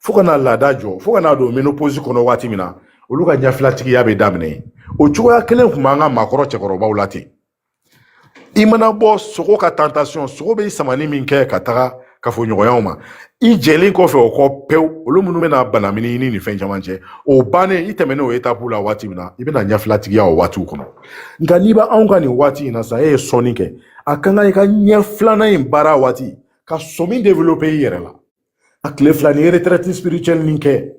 fo ka na laada jɔ fo ka na don ménopause kɔnɔ waati min na olu ka ɲɛfilatigiya bɛ daminɛ o cogoya kelen tun b'an ka maakɔrɔ cɛkɔrɔbaw la ten i mana bɔ sogo ka tentation sogo bɛ samani min kɛ ka taga kafoɲɔgɔnyaw ma i jɛlen kɔfɛ o kɔ pewu olu minnu bɛna banamini ɲini ni fɛn caman cɛ o bannen i tɛmɛnen o étape la waati min na i bɛna ɲɛfilatigiya o waatiw kɔnɔ nka n'i bɛ anw ka nin waati in na sisan e ye sɔnni kɛ a ka kan i ka ɲɛ filanan in baara waati ka sɔmi développer i yɛrɛ la a tile fila ni retraite spirituelle nin kɛ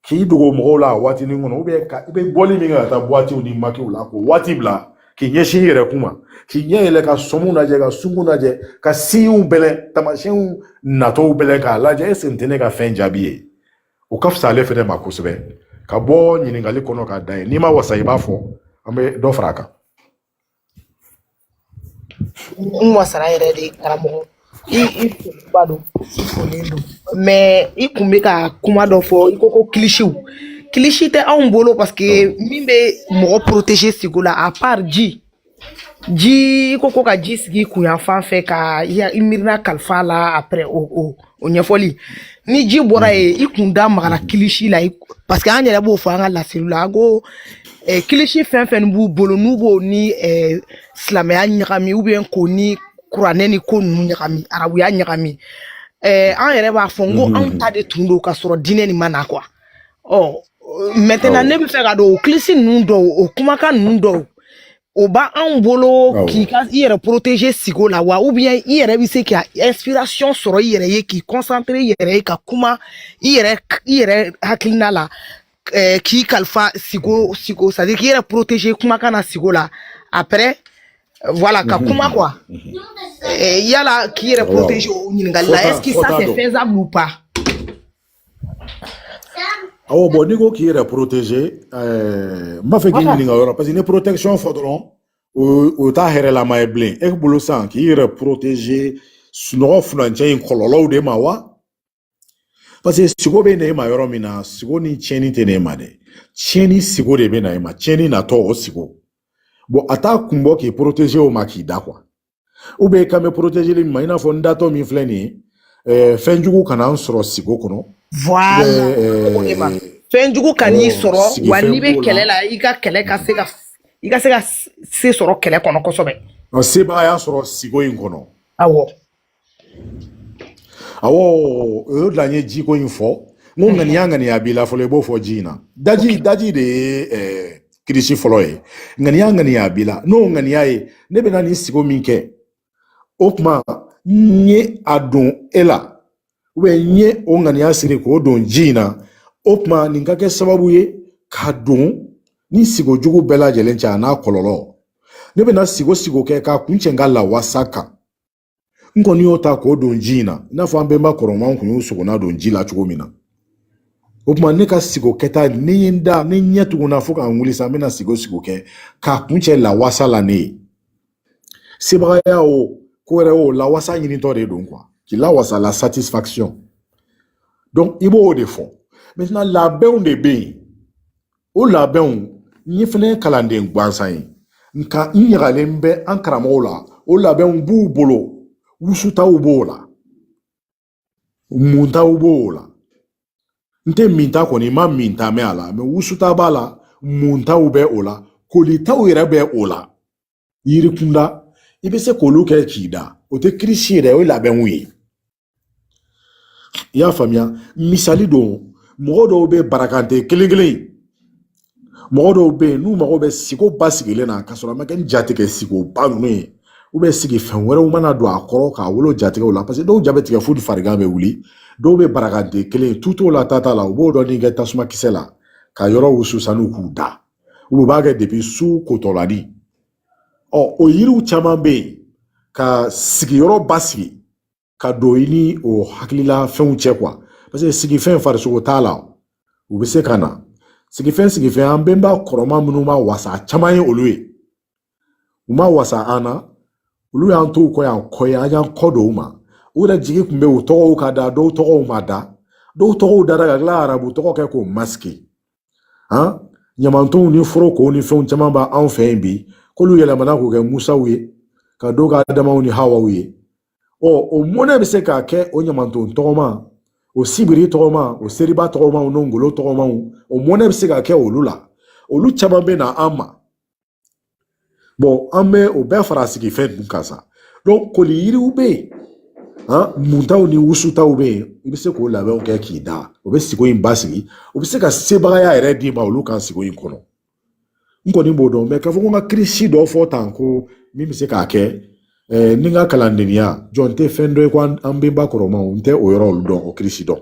k'i dogo mɔgɔw la a waatinin kɔnɔ ou bien ka i bɛ bɔli min kɛ ka taa buwatiw ni makiw la k'o waati bila k'i ɲɛsin i yɛrɛ kun ma k'i ɲɛ yɛlɛ ka sɔmu lajɛ ka sungun lajɛ ka siɲɛw bɛlɛn tamasiyɛnw natɔw bɛlɛn k'a lajɛ est-ce que nin tɛ ne ka fɛn jaabi ye o ka fisa ale fɛnɛ ma kosɛbɛ ka bɔ ɲininkali kɔnɔ k'a da ye n'i ma wasa i b'a fɔ an bɛ dɔ fara a kan n wasara yɛrɛ de karamɔgɔ i i foba don i folen don mais i kun bɛ ka kuma dɔ fɔ i ko ko kilisiw kilisi tɛ anw bolo parce que min bɛ mɔgɔ protéger sigo la à part ji ji i ko ko ka ji sigi i kun yan fan fɛ ka i ya- i miirina kalifa a la après o o o ɲɛfɔli ni ji bɔra ye i kun da magara kilisi la parce que an yɛrɛ b'o fɔ an ka laseliw la an ko eh, kilisi fɛn fɛn b'u bolo n'u b'o ni eh, silamɛya ɲagami ou bien k'o ni kuranɛ ni ko ninnu ɲagami arabuya ɲagami eh, an yɛrɛ b'a fɔ n ko anw ta de tun don ka sɔrɔ diinɛ nin ma na quoi ɔ maintenant ne bɛ fɛ k'a dɔn o kilisi ninnu dɔw o kumakan ninnu dɔw o b'anw bolo k'i ka i yɛrɛ protéger sigo la wa ou bien i yɛrɛ bɛ se ka inspiration sɔrɔ i yɛrɛ ye k'i concentrer i yɛrɛ ye ka kuma i yɛrɛ i yɛrɛ hakilina la eh, k'i kalifa sigo sigo c'est à dire k'i yɛrɛ protéger kumakan na sigo la après voilà ka mhm. kuma quoi mhm. eh, yala k'i yɛrɛ protéger o ɲininkali la est ce que ça c'est faisable ou pas awɔ bon n'i ko k'i yɛrɛ protéger n b'a fɛ k'i ɲininka o yɔrɔ parce que n'i protection fɔ dɔrɔn o t'a hɛrɛlama ye bilen e bolo sisan k'i yɛrɛ protéger sunɔgɔ furancɛ in kɔlɔlɔw de ma wa parce que sigo bɛ na e ma yɔrɔ min na sigo ni tiɲɛni tɛ na e ma dɛ tiɲɛni sigo de bɛ na e ma tiɲɛni natɔ o sigo bon a t'a kun bɔ k'i protéger o ma k'i da quoi ou bien i kan bɛ porotezeli min ma i n'a fɔ n datɔ min filɛ nin ye fɛn jugu kana n sɔrɔ sigo kɔnɔ fɛn jugu kan'i sɔrɔ wa n'i bɛ kɛlɛ la i ka kɛlɛ ka se ka i ka se ka se sɔrɔ kɛlɛ kɔnɔ kosɛbɛ sebagaya sɔrɔ sigo in kɔnɔ awɔ awɔ o y'o de la n ye jiko in fɔ n ko ŋaniya ŋaniya b'i la fɔlɔ i b'o fɔ ji in na daji daji de ye eh, kirisi fɔlɔ ye ŋaniya ŋaniya b'i la n'o ŋaniya ye ne bɛna nin sigo min kɛ o tuma n ye a don e la ou bien n ye o ŋaniya siri k'o don ji in na o tuma nin ka kɛ sababu ye ka don ni sigo jugu bɛɛ lajɛlen cɛ a n'a kɔlɔlɔ ne bɛna sigo sigo kɛ k'a kuncɛ n ka lawasa kan n kɔni y'o ta k'o don ji in na i n'a fɔ an bɛnba kɔrɔmaw kun y'o sogona don ji la cogo min na o tuma ne ka sigo kɛta ne ye n da ne ɲɛ tugunna fo ka n wuli sa n bɛna sigo sigo kɛ k'a kuncɛ lawasa la ne ye sebagaya o ko wɛrɛ o lawasa ɲinitɔ de don quoi k'i lawasa la satisfaction donc i b'o de fɔ maintenant labɛnw de bɛ yen o labɛnw n ye fɛnɛ kalanden gansan ye nka n ɲagalen bɛ an karamɔgɔw la o labɛnw b'u bolo wusutaw b'o la muntaw b'o la n tɛ minta kɔni ma minta mɛn a la mais wusuta b'a la muntaw bɛ o la kolitaw yɛrɛ bɛ o la yiri kunda i bɛ se k'olu kɛ k'i da o tɛ kirisi yɛrɛ o ye labɛnw ye i y'a faamuya misali don mɔgɔ dɔw bɛ barakante kelen kelen mɔgɔ dɔw bɛ yen n'u mago bɛ sigo basigilen na ka sɔrɔ a ma kɛ nin jatigɛ sigoba ninnu ye ou bien sigifɛn wɛrɛw mana don a kɔrɔ k'a wolo jatigɛw la parce que dɔw ja bɛ tigɛ fo ni farigan bɛ wuli dɔw bɛ barakante kelen tu t'o la tata la u b'o dɔɔnin kɛ tasuma kisɛ la ka yɔrɔ wusu sanu k'u da u b'a kɛ depuis su kotɔlani ɔ o yiriw caman bɛ yen ka sigiyɔrɔ basigi ka don i ni o hakilila fɛnw cɛ quoi parce que sigifɛn farisogo t'a la u bɛ se ka na sigifɛn sigifɛn an bɛnba kɔrɔma minnu ma wasa caman ye olu ye u ma wasa an na olu y'an to u kɔ yan kɔ ye an y'an kɔ don u ma u yɛrɛ jigi tun bɛ u tɔgɔw ka da dɔw tɔgɔw ma da dɔw tɔgɔw dara ka tila arabu tɔgɔ kɛ k'o masqué han ɲamantonw ni forokow ni fɛnw caman b'an fɛ yen bi k'olu yɛlɛmana k'u kɛ musaw ye ka dɔw kɛ adamaw ni hawaw ye ɔ o mɔnɛ bɛ se ka kɛ o ɲamanton tɔgɔma o sibiri tɔgɔma o seriba tɔgɔmaw n'o ngolo tɔgɔmaw o mɔnɛ bɛ se ka kɛ olu la olu caman bɛ na an ma Bon an bɛ o bɛɛ fara sigifɛn dun kan sa donc koli yiriw bɛ yen muntaw ni wusutaw bɛ yen i bɛ se k'o labɛnw kɛ k'i da o bɛ sigo in basigi o bɛ se ka sebagaya yɛrɛ d'i ma olu kan sigo in kɔnɔ n kɔni b'o dɔn mais k'a fɔ ko n ka kirisi dɔ fɔ tan ko min bɛ se k'a kɛ ni n ka kalandenya jɔn tɛ fɛn dɔ ye ko an bɛnba kɔrɔmaw n tɛ o yɔrɔ olu dɔn o kirisi dɔn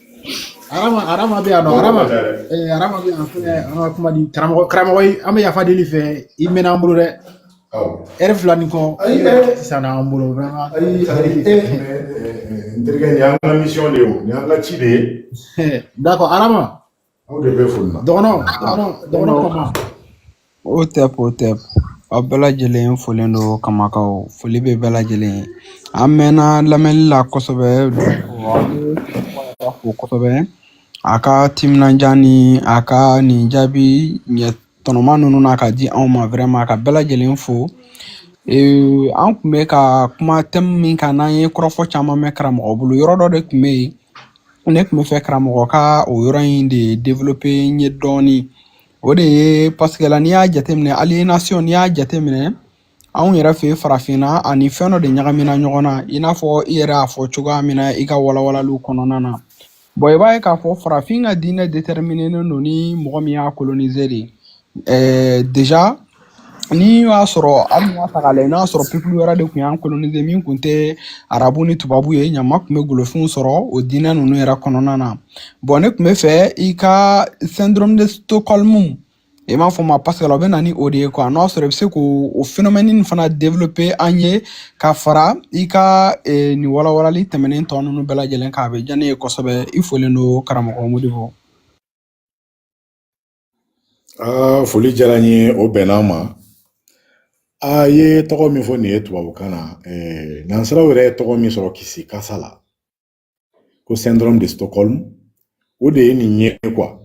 Arama arama bɛ yan nɔ arama bɛ yan fɛnɛ an ka kuma di karamɔgɔ ye an bɛ yafa deli fɛ i mɛnna an bolo dɛ ɛri fila ni kɔ sisan an bolo vraiment n terikɛ nin y'an ka misiyɔn de ye o nin y'an ka ci de ye dakɔ arama aw de bɛ foli la dɔgɔnɔ dɔgɔnɔ dɔgɔnɔ kama o tɛ o tɛ aw bɛɛ lajɛlen folen don kamakaw foli bɛ bɛɛ lajɛlen ye an mɛnna lamɛnni la kosɛbɛ fo kosɛbɛ a ka timinandiya ni a ka nin jaabi ɲɛ tɔnɔma ninnu na ka di anw ma vraiment ka bɛɛ lajɛlen fo ee an tun bɛ ka kuma tɛmu min kan n'an ye kɔrɔfɔ caman mɛn karamɔgɔ bolo yɔrɔ dɔ de tun bɛ yen ne tun bɛ fɛ karamɔgɔ ka o yɔrɔ in de developpe n ye dɔɔnin o de ye paseke la n'i y'a jateminɛ alienation n'i y'a jateminɛ anw yɛrɛ fɛ farafinna ani fɛn dɔ de ɲagamina ɲɔgɔn na i n'a fɔ i yɛrɛ y'a fɔ cogoya min na i ka walawalaliw kɔnɔna na bon i b'a ye k'a fɔ farafin ka diinɛ determinenen don ni mɔgɔ min y'a kolonize de Ɛɛ deja ni y'a sɔrɔ an dun y'a ta k'a lajɛ n'a y'a sɔrɔ pepulu wɛrɛ de tun y'an kolonize min tun tɛ arabu ni tubabu ye ɲama tun bɛ golofinw sɔrɔ o diinɛ ninnu yɛrɛ kɔnɔna na bon ne tun bɛ fɛ i ka syndrome de stockholm i m'a fɔ ma paseke la o bɛ na ni o de ye kuwa n'o y'a sɔrɔ i bɛ se k'o o phénomène nin fana développer an ye ka fara i ka eh, nin walawalali tɛmɛnen tɔ ninnu bɛɛ lajɛlen kan a bɛ diya ne ye kosɛbɛ i folen don karamɔgɔ modibo Aa foli diyara n ye o bɛnna an ma a ye tɔgɔ min fɔ nin ye tubabukan na eh, nansaraw yɛrɛ ye tɔgɔ min sɔrɔ kisikasa la ko syndrome de stockholm o de ye nin ye kuwa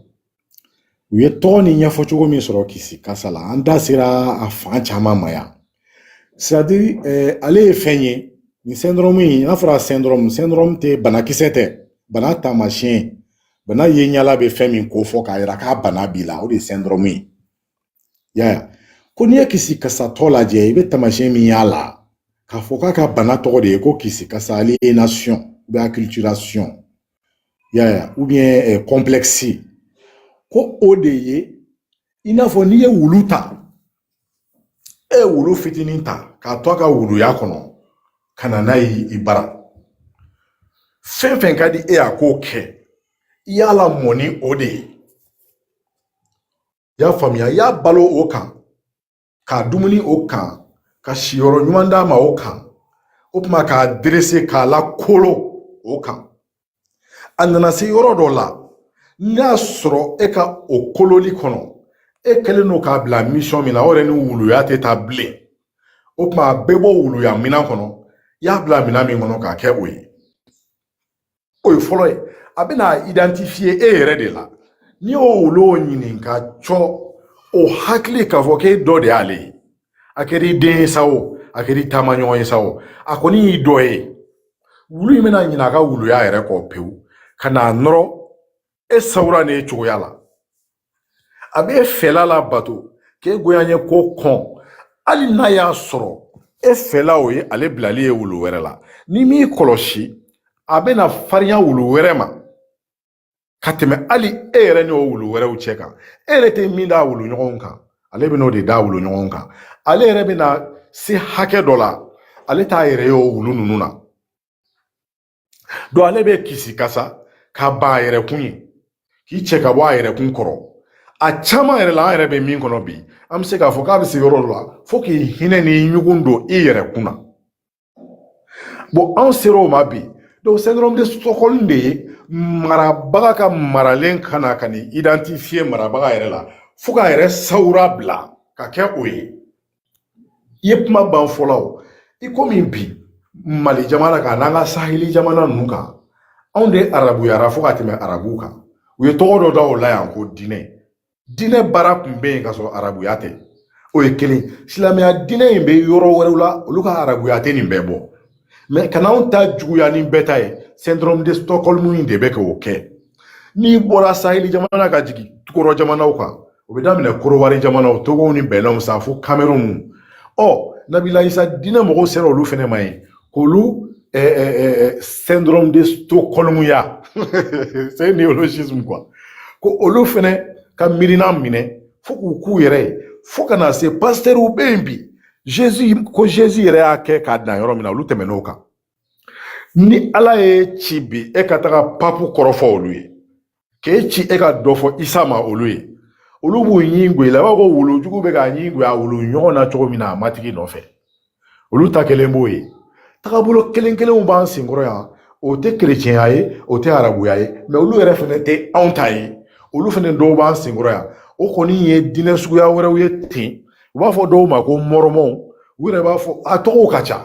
u ye tɔgɔ ni ɲɛfɔ cogo min sɔrɔ kisikasa la an da sera a fan caman ma yan sadiri eh, ale ye fɛn ye nin syndrome in n'a fɔra syndrome syndrome tɛ banakisɛ tɛ bana taamasiyɛn bana ye ɲala bɛ fɛn min kofɔ k'a yira k'a bana b'i la o de ye syndrome ye yaya ko n'i ye kisikasatɔ lajɛ i bɛ taamasiyɛn min y'a la k'a fɔ k'a ka bana tɔgɔ de ye ko kisikasa alienation ou bien acculturation yaya ou bien eh, complexe ko o de ye i n'a fɔ n'i ye wulu ta e ye wulu fitinin ta k'a to a ka wuluya kɔnɔ ka na n'a ye i bara fɛn fɛn ka di e y'a k'o kɛ i y'a lamɔ ni o de ye i y'a faamuya i y'a balo o kan k'a dumuni o kan ka siyɔrɔ ɲuman d'a ma o kan o tuma k'a derese k'a lakolo o kan a nana se yɔrɔ dɔ la n'a y'a sɔrɔ e ka o kololi kɔnɔ e kɛlen don k'a bila mission min na o yɛrɛ ni wuluya tɛ taa bilen o tuma a bɛ bɔ wuluya minan kɔnɔ i y'a bila minan min kɔnɔ k'a kɛ o ye o ye fɔlɔ ye a bɛn'a identifier e yɛrɛ de la n'i y'o wulu ɲininka cɔ o hakili k'a fɔ k'e dɔ de y'ale ye a kɛr'i den ye sa o a kɛr'i taamaɲɔgɔn ye sa o a kɔni y'i dɔ ye wulu in bɛna ɲinɛ a ka wuluya yɛrɛ kɔ pewu ka n'a nɔrɔ e sawura n'e cogoya la a b'e fɛla labato k'e goyanyeko kɔn hali n'a y'a sɔrɔ e fɛla o ye ale bilali ye wulu wɛrɛ la n'i m'i kɔlɔsi a bɛna farinya wulu wɛrɛ ma ka tɛmɛ hali e yɛrɛ n'o wulu wɛrɛw cɛ kan e yɛrɛ tɛ min d'a wulu ɲɔgɔnw kan ale bɛn'o de d'a wulu ɲɔgɔnw kan ale yɛrɛ bɛna se hakɛ dɔ la ale t'a yɛrɛ ye o wulu ninnu na donc ale bɛ kisi kasa ka ban a yɛrɛ kun ye k'i cɛ ka bɔ a yɛrɛ kun kɔrɔ a caman yɛrɛ la an yɛrɛ bɛ min kɔnɔ bi an bɛ se k'a fɔ k'a bɛ se yɔrɔ dɔ la fo k'i hinɛ ni ɲugun don i yɛrɛ kun na bon anw sera o ma bi donc syndrome de stockholm de ye marabaga ka maralen ka na ka n'i identifier marabaga yɛrɛ la fo k'a yɛrɛ sawura bila ka kɛ o ye i ye kuma ban fɔlɔ o i komi bi mali jamana kan n'an ka saheli jamana ninnu kan anw de arabuyara fo ka tɛmɛ arabuw kan u ye tɔgɔ dɔ da o la yan ko diinɛ diinɛ baara tun bɛ yen ka sɔrɔ arabuya tɛ o ye kelen silamɛya diinɛ in bɛ yɔrɔ wɛrɛw la olu ka arabuya tɛ nin bɛɛ bɔ mais ka n'anw ta juguya ni bɛɛ ta ye syndrome de stockholm in de bɛ k'o kɛ n'i bɔra saheli jamana ka jigin tukɔrɔ jamanaw kan o bɛ daminɛ korowari jamanaw togow ni bɛnɛnw sa fo kamerun ɔ nabila isa diinɛ mɔgɔw sera olu fɛnɛ ma yen k'olu eh, eh, eh, eh syndrome de Stockholm ya c'est un néologisme quoi ko olu fɛnɛ ka miirina minɛ fo k'u k'u yɛrɛ ye fo ka na se pasitɛriw bɛ yen bi Jésus ko Jésus yɛrɛ y'a kɛ k'a dan yɔrɔ min na olu tɛmɛn'o kan ni ala y'e ci bi e ka taga papu kɔrɔfɔ olu ye k'e ci e ka dɔ fɔ isa ma olu ye olu b'u ɲin gwɛ i la i b'a fɔ wulujugu bɛ k'a ɲin gwɛ a wulu ɲɔgɔn na cogo min na a matigi nɔfɛ olu ta kelen b'o ye tagabolo kelen kelenw b'an senkɔrɔ yan o tɛ kerecɛnya ye o tɛ arabuya ye mais olu yɛrɛ fɛnɛ tɛ anw ta ye olu fɛnɛ dɔw b'an senkɔrɔ yan o kɔni ye diinɛ suguya wɛrɛw ye ten u b'a fɔ dɔw ma ko mɔrɔmɔw u yɛrɛ b'a fɔ a tɔgɔw ka ca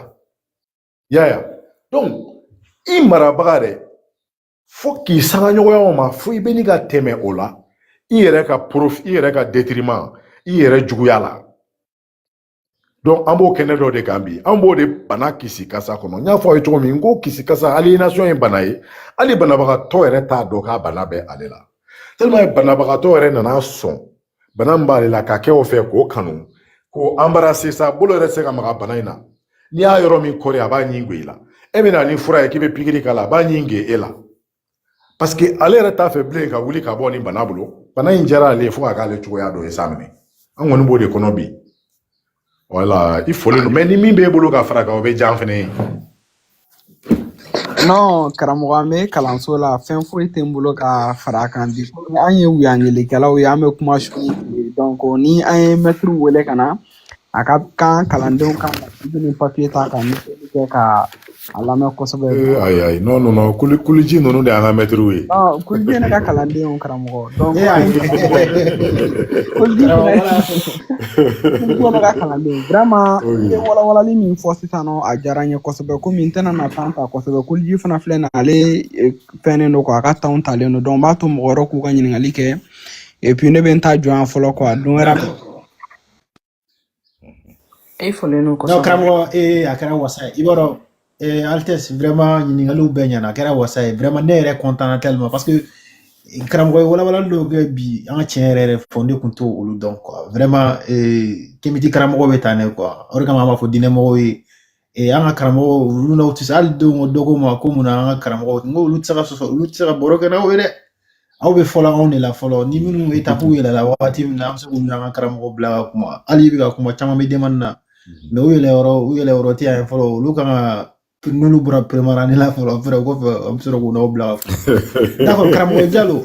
yaya donc i marabaga dɛ fo k'i sanga ɲɔgɔnyaw ma fo i bɛ ni ka tɛmɛ o la i yɛrɛ ka profit i yɛrɛ ka détriment i yɛrɛ juguya la donc an b'o kɛnɛ dɔ de kan bi an b'o de bana kisi kasa kɔnɔ n y'a fɔ aw ye cogo min n ko kisi kasa aliénation ye bana ye hali banabagatɔ yɛrɛ t'a dɔn k'a bana bɛ ale la tellement banabagatɔ yɛrɛ nana sɔn bana min b'ale la ka kɛ o fɛ k'o kanu k'o embrasser sa bolo yɛrɛ tɛ se ka maga bana in na n'i y'a yɔrɔ min kɔri a b'a ɲin ge i la e bɛ na ni fura ye k'i bɛ pikiri k'a la a b'a ɲin ge e la parce que ale yɛrɛ t'a fɛ bilen ka wuli ka bɔ ni bana bolo bana in diyara ale ye fo ka k'ale cogoya dɔ ye sa minɛ an kɔni b'o de kɔnɔ bi voilà i fɔlen don mais ni min b'e bolo ka fara a kan o bɛ diya an fɛnɛ ye non karamɔgɔ an bɛ kalanso la fɛn foyi tɛ n bolo ka fara a kan bi komi an ye wuyangelikɛlaw ye an bɛ kuma su ni tile ye. donc ni an ye mɛtiriw wele ka na a ka kan kalandenw ka biki ni papiye ta ka ɲɛfɔli kɛ ka A lamɛn kosɛbɛ ayi ayi non kuliji ninnu de y'an ka mɛtiriw ye kuliji ye ne ka kalanden karamɔgɔ i ye walawalali min fɔ sisan a diyara n ye kosɛbɛ kɔmi n tɛna na temps ta kosɛbɛ kuliji fana filɛ nin ale fɛnnen don quoi a ka temps talen don donc n b'a to mɔgɔ wɛrɛw k'u ka ɲininkali kɛ et puis ne bɛ n ta jɔ yan fɔlɔ quoi don wɛrɛ e fɔlen don kosɛbɛ. Non karamɔgɔ ee a kɛra wasa ye i b'a dɔn ee Altesse vraiment ɲininkaliw bɛɛ ɲɛna a kɛra wasa ye vraiment ne yɛrɛ content na tellement parce que karamɔgɔ ye walawalali dɔw kɛ bi an ka tiɲɛ yɛrɛ yɛrɛ fɔ ne kun t'olu dɔn quoi vraiment ee kemiti karamɔgɔ bɛ tan ne quoi o de kama an b'a fɔ diinɛmɔgɔw ye Ee an ka karamɔgɔw olu n'aw tɛ se hali denw dɔ ko n ma ko mun na an ka karamɔgɔw n ko olu tɛ se ka sɔsɔ olu tɛ se ka baro kɛ n'aw ye dɛ aw bɛ fɔlɔ anw de la fɔlɔ ni minnu étape yɛlɛla wagati min na an bɛ se k'u n'an ka karamɔgɔ bila ka kuma hali i bɛ ka kuma caman bɛ demande na mais u yɛlɛ yɔrɔ u yɛlɛ yɔrɔ tɛ yan fɔlɔ olu kan ka n'olu bɔra peremarani la fɔlɔ fɛrɛ o kɔfɛ an bɛ sɔrɔ k'u n'aw bila ka kuma d'accord karamɔgɔ jalo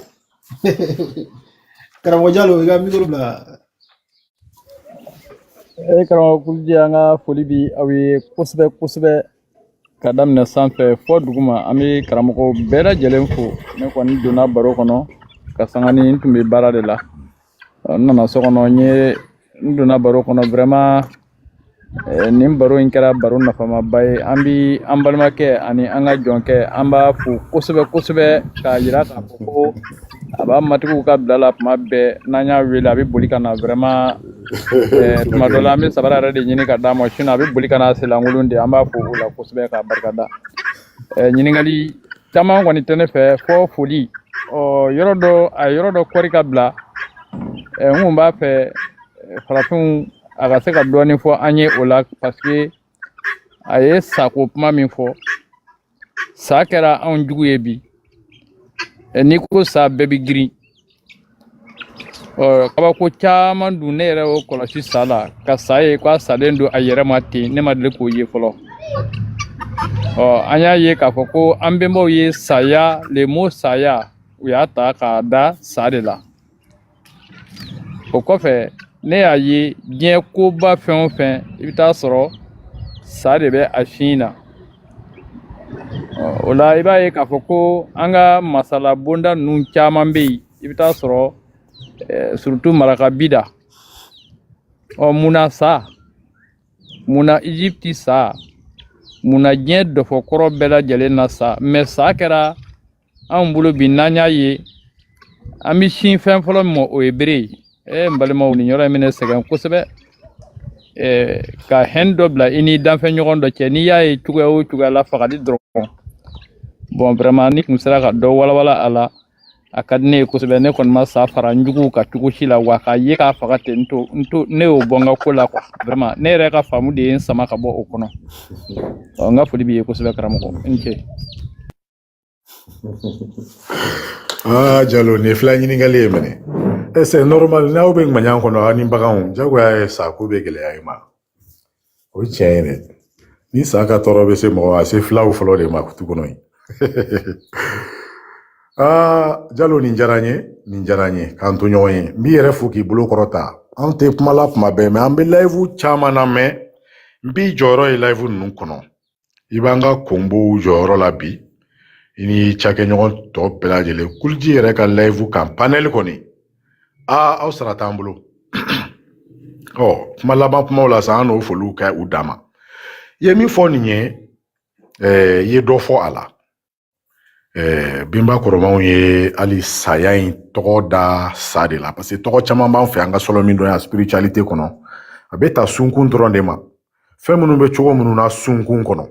karamɔgɔ jalo i ka mikoro bila E karamɔgɔ kuliji an ka foli bi aw ye kosɛbɛ kosɛbɛ ka daminɛ sanfɛ fo duguma an bɛ karamɔgɔw bɛɛ lajɛlen fo ne kɔni donna baro kɔnɔ ka sanga ni n tun bɛ baara de la n nana so kɔnɔ n ye n donna baro kɔnɔ vraiment nin baro in kɛra baro nafamaba ye an bɛ an balimakɛ ani an ka jɔnkɛ an b'a fo kosɛbɛ kosɛbɛ k'a yira k'a fɔ ko a b'a matigiw ka bila la tuma bɛɛ n'an y'a wele a bɛ boli ka na vraiment tuma dɔ la an bɛ sabara yɛrɛ de ɲini ka d'a ma sinon a bɛ boli ka na a senlankolon de an b'a fo o la kosɛbɛ k'a barika da ɲininkali caman kɔni tɛ ne fɛ fo foli ɔ yɔrɔ dɔ a yɔrɔ dɔ kɔri ka bila ɛ n kun b'a fɛ farafinw a ka se ka dɔɔnin fɔ an ye o la paseke a ye sa ko kuma min fɔ sa kɛra anw jugu ye bi n'i ko sa bɛɛ bɛ girin kabako caman dun ne yɛrɛ y'o kɔlɔsi sa la ka sa ye k'a salen don a yɛrɛ ma ten ne ma deli k'o ye fɔlɔ ɔ an y'a ye k'a fɔ ko an bɛnbaw ye saya le mot saya u y'a ta k'a da sa de la o kɔfɛ ne y'a ye diɲɛ koba fɛn o fɛn i bɛ taa sɔrɔ sa de bɛ a sun na o la i b'a ye k'a fɔ ko an ka masala bonda ninnu caman bɛ yen i bɛ taa sɔrɔ surtout maraka bida ɔ munna sa munna egypte sa munna diɲɛ dɔfɔ kɔrɔ bɛɛ lajɛlen na sa mais sa kɛra anw bolo bi n'an y'a ye an bɛ sin fɛn fɔlɔ min ma o ye bere ye ee n balimaw nin yɔrɔ in bɛ ne sɛgɛn kosɛbɛ ee ka haine dɔ bila i ni danfɛn ɲɔgɔn dɔ cɛ n'i y'a ye cogoya o cogoya la fagali dɔrɔn bon vraiment n'i kun sera ka dɔ walawala a la a ka di ne ye kosɛbɛ ne kɔni ma sa fara n juguw kan cogo si la wa k'a ye k'a faga ten n to n to ne y'o bɔ n ka ko la quoi vraiment ne yɛrɛ ka faamu de ye n sama ka bɔ o kɔnɔ ɔ n ka foli b'i ye kosɛbɛ karamɔgɔ i ni ce aa jalo nin ye fila ɲininkali ye mɛnɛ c'est normal n'aw bɛ ŋaɲan kɔnɔ aw ni baganw jagoya ye sa ko bɛ gɛlɛya i ma o ye tiɲɛ ye dɛ ni sa ka tɔɔrɔ bɛ se mɔgɔ ma a se filaw fɔlɔ de ma tu kɔnɔ yen aa jalo nin diyara n ye nin diyara n ye k'an to ɲɔgɔn ye n b'i yɛrɛ fo k'i bolo kɔrɔta an tɛ kuma la kuma bɛɛ mɛ an bɛ live caman na mais n b'i jɔyɔrɔ ye live ninnu kɔnɔ i b'an ka konbow jɔyɔrɔ la bi i ni cakɛɲɔgɔn tɔ bɛɛ lajɛlen kuliji yɛrɛ ka live kan panɛli kɔni aa aw sara t'an bolo ɔ kuma laban kumaw la sa an n'o foliw kɛ u danma i ye min fɔ nin ye i ye dɔ fɔ a la ɛɛ binba kɔrɔmanw ye hali saya in tɔgɔ da sa de la parce que tɔgɔ caman b'an fɛ an ka sɔlɔ min dɔn yan spiritualité kɔnɔ a bɛ ta sunkun dɔrɔn de ma fɛn minnu bɛ cogo minnu na sunkun kɔnɔ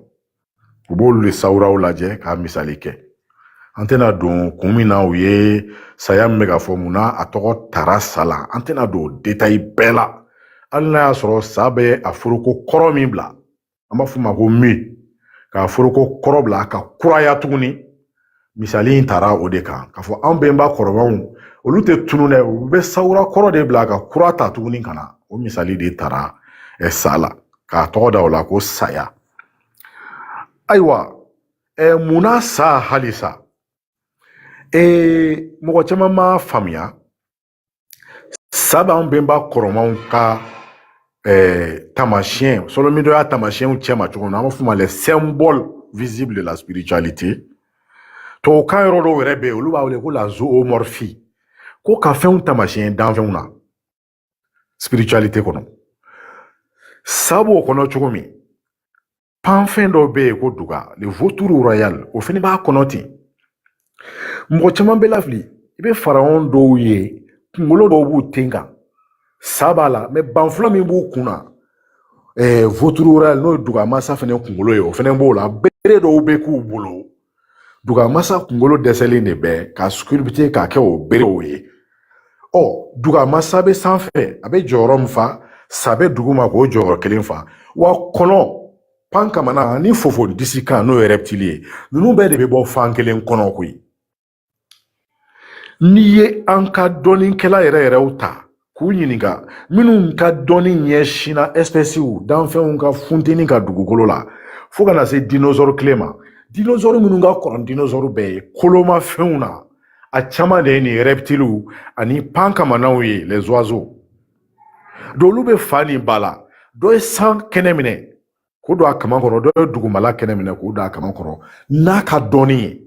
u b'olu de sawuraw lajɛ k'a misali kɛ an tɛna don kun min na u ye saya min bɛ k'a fɔ mun na a tɔgɔ tara sa la an tɛna don detayi bɛɛ la hali n'a y'a sɔrɔ sa bɛ a foroko kɔrɔ min bila an b'a f'o ma ko mi k'a foroko kɔrɔ bila ka kuraya tuguni misali in tara o de kan k'a fɔ an bɛnba kɔrɔbaw olu tɛ tunun dɛ u bɛ sawura kɔrɔ de bila ka kura ta tuguni ka na o misali de tara ɛ sa la k'a tɔgɔ da o la ko saya ayiwa ɛ mun na sa halisa ee mɔgɔ caman m'a faamuya Sa b'an bɛnba kɔrɔmaw ka tamasiyɛn sɔlɔmidɔya tamasiyɛnw cɛma cogo min na an b'a fɔ ma les symboles visibles de la spiritualité tubabukan yɔrɔ dɔw yɛrɛ bɛ yen olu b'a wele ko la zoomorphie ko ka fɛnw tamasiyɛn danfɛnw na spiritualité kɔnɔ sa b'o kɔnɔ cogo min panfɛn dɔw bɛ yen ko duga le vautour royal o fana b'a kɔnɔ ten mɔgɔ caman bɛ lafili i bɛ pharaon dɔw ye kunkolo dɔw b'u ten kan sa b'a la mais banfula min b'u kun na vautour royal n'o ye dugamasa fana kunkolo ye o fana b'o la bere dɔw bɛ k'u bolo dugamasa kunkolo dɛsɛlen de bɛ ka sculpter k'a kɛ o berew ye ɔ dugamasa bɛ sanfɛ a bɛ jɔyɔrɔ min fa sa bɛ duguma k'o jɔyɔrɔ kelen fa wa kɔnɔ pan kamana ni fofo disi kan n'o ye reptile ye ninnu bɛɛ de bɛ bɔ fan kelen kɔnɔ koyi n'i ye an ka dɔnnikɛla yɛrɛ yɛrɛw ta k'u ɲininka minnu ka dɔnni ɲɛsinna ɛsipɛsiw danfɛnw ka funteni ka dugukolo la fo ka na se dinosaure tile ma dinosaure minnu ka kɔrɔ dinosaure bɛɛ ye kolomafɛnw na a caman de ye nin rɛptiliw ani pan kamanaw ye les oiseaux do olu bɛ fa ni ba la dɔ ye san kɛnɛ minɛ k'o don a kama kɔrɔ dɔ ye dugumala kɛnɛ minɛ k'o don a kama kɔrɔ n'a ka dɔnni ye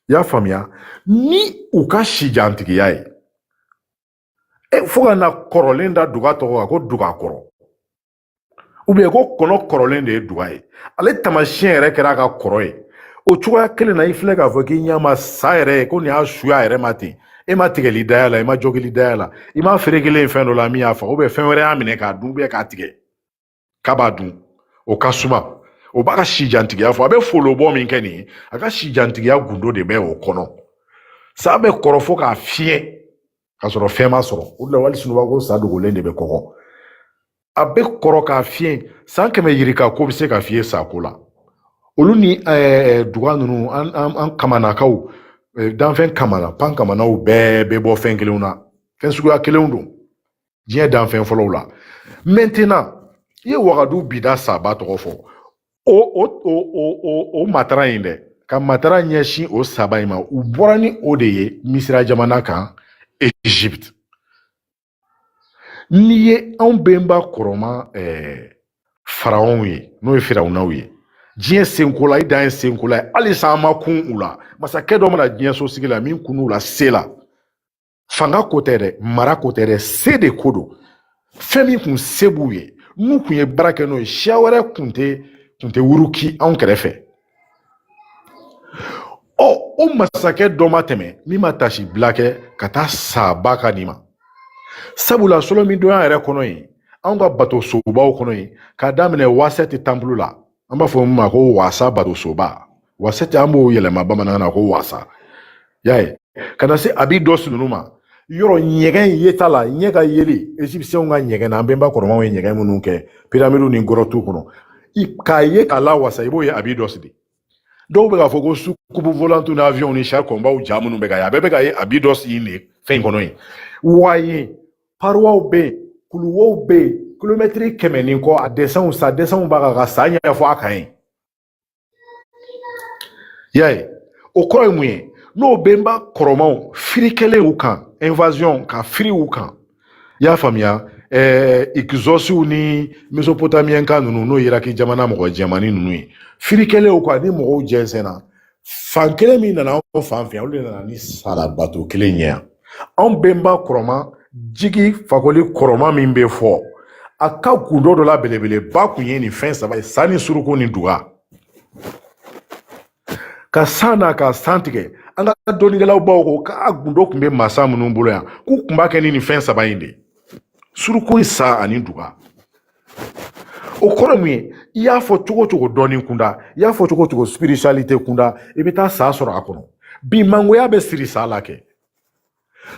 i y'a faamuya ni u ka sijantigiya ye e fo ka na kɔrɔlen da duga tɔgɔ kan ko duga kɔrɔ ou bien ko kɔnɔ kɔrɔlen de ye duga ye ale tamasiyɛn yɛrɛ kɛra a ka kɔrɔ ye o cogoya kelen na i filɛ k'a fɔ k'i ɲɛ ma sa yɛrɛ ye ko n'i y'a su y'a yɛrɛ ma ten e ma tigɛli da y'a la i ma jogili da y'a la i m'a ferekelen ye fɛn dɔ la min y'a fa ou bien fɛn wɛrɛ y'a minɛ k'a dun ou bien k'a tigɛ k'a b'a dun o ka suma o b'a ka sijantigiya fɔ a bɛ folobɔ min kɛ nin ye a ka sijantigiya gundo de bɛ o kɔnɔ sa bɛ kɔrɔ fo ka fiɲɛ k'a sɔrɔ fɛn m'a sɔrɔ o de la wali sunɔgɔ ko sa dogolen de bɛ kɔgɔ a bɛ kɔrɔ ka fiɲɛ san kɛmɛ yirika k'o bɛ se ka fiɲɛ sa ko la olu ni eh, duga ninnu an, an, an kamanakaw eh, danfɛn kamana pan kamanaw bɛɛ bɛ bɔ fɛn kelenw na fɛn suguya kelenw don diɲɛ danfɛn fɔlɔw la maintenant i ye wagadu bida saba tɔgɔ fɔ o o o o o matara in dɛ ka matara ɲɛsin o saba in ma u bɔra ni o de ye misira jamana kan egypte n'i ye anw benba kɔrɔma eh, faraɔnw ye n'o ye firawunaw ye diɲɛ senkola i dan ye senkola ye halisa an ma kun u la masakɛ dɔ ma na diɲɛ sosigi la min kun u la se la fanga ko tɛ dɛ mara ko tɛ dɛ se de ko don fɛn min kun se b'u ye n'u kun ye baara kɛ n'o ye siya wɛrɛ kun tɛ kun tɛ wuruki anw kɛrɛfɛ ɔ o masakɛ dɔ ma tɛmɛ min ma tasi bila kɛ ka taa saba ka nin ma sabula solo min donya yɛrɛ kɔnɔ yen anw ka bato sobaw kɔnɔ yen k'a daminɛ wasɛti tanpulu la an b'a fɔ min ma ko wasa bato soba wasɛti an b'o yɛlɛma bamanankan na ko wasa y'a ye ka na se abydos ninnu ma yɔrɔ ɲɛgɛn in ye ta la ɲɛ ka yeli ezipsiyɛnw ka ɲɛgɛn na an bɛnba kɔrɔmaw ye ɲɛgɛn minnu kɛ piramidu ni gɔrɔtu kɔnɔ k'a ye k'a la wasa i b'o ye abydos de dɔw bɛ k'a fɔ ko soucoupe volante ni avion ni char combat ja minnu bɛ ka ye a bɛɛ bɛ ka ye abydos de nin fɛn in kɔnɔ yen wa ye paruwaw bɛ yen kuluwow bɛ yen kilomɛtiri kɛmɛ ni kɔ a dɛsɛnw sa dɛsɛnw b'a kan ka sa ɲɛfɔ a kan yen y'a ye o kɔrɔ ye mun ye n'o bɛnba kɔrɔmaw firikɛlen u kan invasion ka firi u kan i y'a faamuya ɛɛ ikizɔsiw ni mesopotamiyɛnka ninnu n'o y'iraki jamana mɔgɔ jɛmani ninnu ye firikɛlen u kan ni mɔgɔw jɛnsɛnna fan kelen min nana anw fan fɛ olu de nana ni sa labato kelen in ye yan anw bɛnba kɔrɔma jigi fakoli kɔrɔma min bɛ fɔ a ka gundo dɔ la belebeleba kun ye nin fɛn saba ye sa ni suruku ni duga ka san na ka san tigɛ an ka dɔnnikɛlabaw ko k'a gundo kun bɛ masa minnu bolo yan k'u kun b'a kɛ ni nin fɛn saba in de suruku sa ani duga o kɔrɔ mun ye i y'a fɔ cogo o cogo dɔnni kunda i y'a fɔ cogo o cogo spiritualite kunda i bɛ taa sa sɔrɔ a kɔnɔ bi mangoya bɛ siri sa la kɛ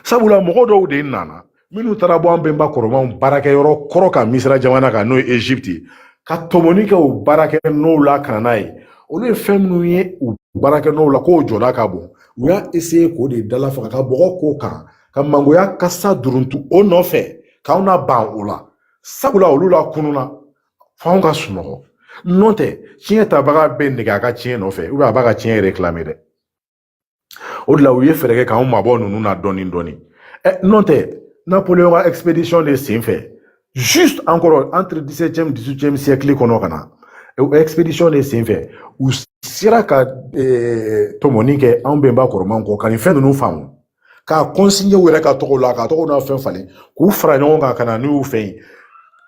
sabula mɔgɔ dɔw de nana minnu taara bɔ an bɛnba kɔrɔmanw baarakɛ yɔrɔ kɔrɔ kan misira jamana kan n'o ye egypte ye ka tɔmɔni kɛ u baarakɛ nɔw la ka na n'a ye olu ye fɛn minnu ye u baarakɛ nɔw la k'o jɔda ka bon u y'a essayer k'o de dala faga ka bɔgɔ k'o kan ka mangoya kasa duruntu o nɔfɛ k'anw naban o la sabula olu lakununna f'anw ka sunɔgɔ n'o tɛ tiɲɛ tabaga bɛ nege a ka tiɲɛ nɔfɛ a b'a ka tiɲɛ réclamer dɛ o de la u ye fɛɛrɛ kɛ k'anw mabɔ ninnu na dɔɔnin dɔɔnin ɛ n'o tɛ napoleon ka expedition de sen fɛ juste encore entre 17e 18e siècle kɔnɔ ka na expedition de sen fɛ u sera ka tɔmɔni kɛ anw bɛnba kɔrɔmanw kɔ ka nin fɛn ninnu faamu k'a kɔnsinɲɛ u yɛrɛ ka tɔgɔ la ka tɔgɔ n'a fɛn falen k'u fara ɲɔgɔn kan ka na n'u y'u fɛ yen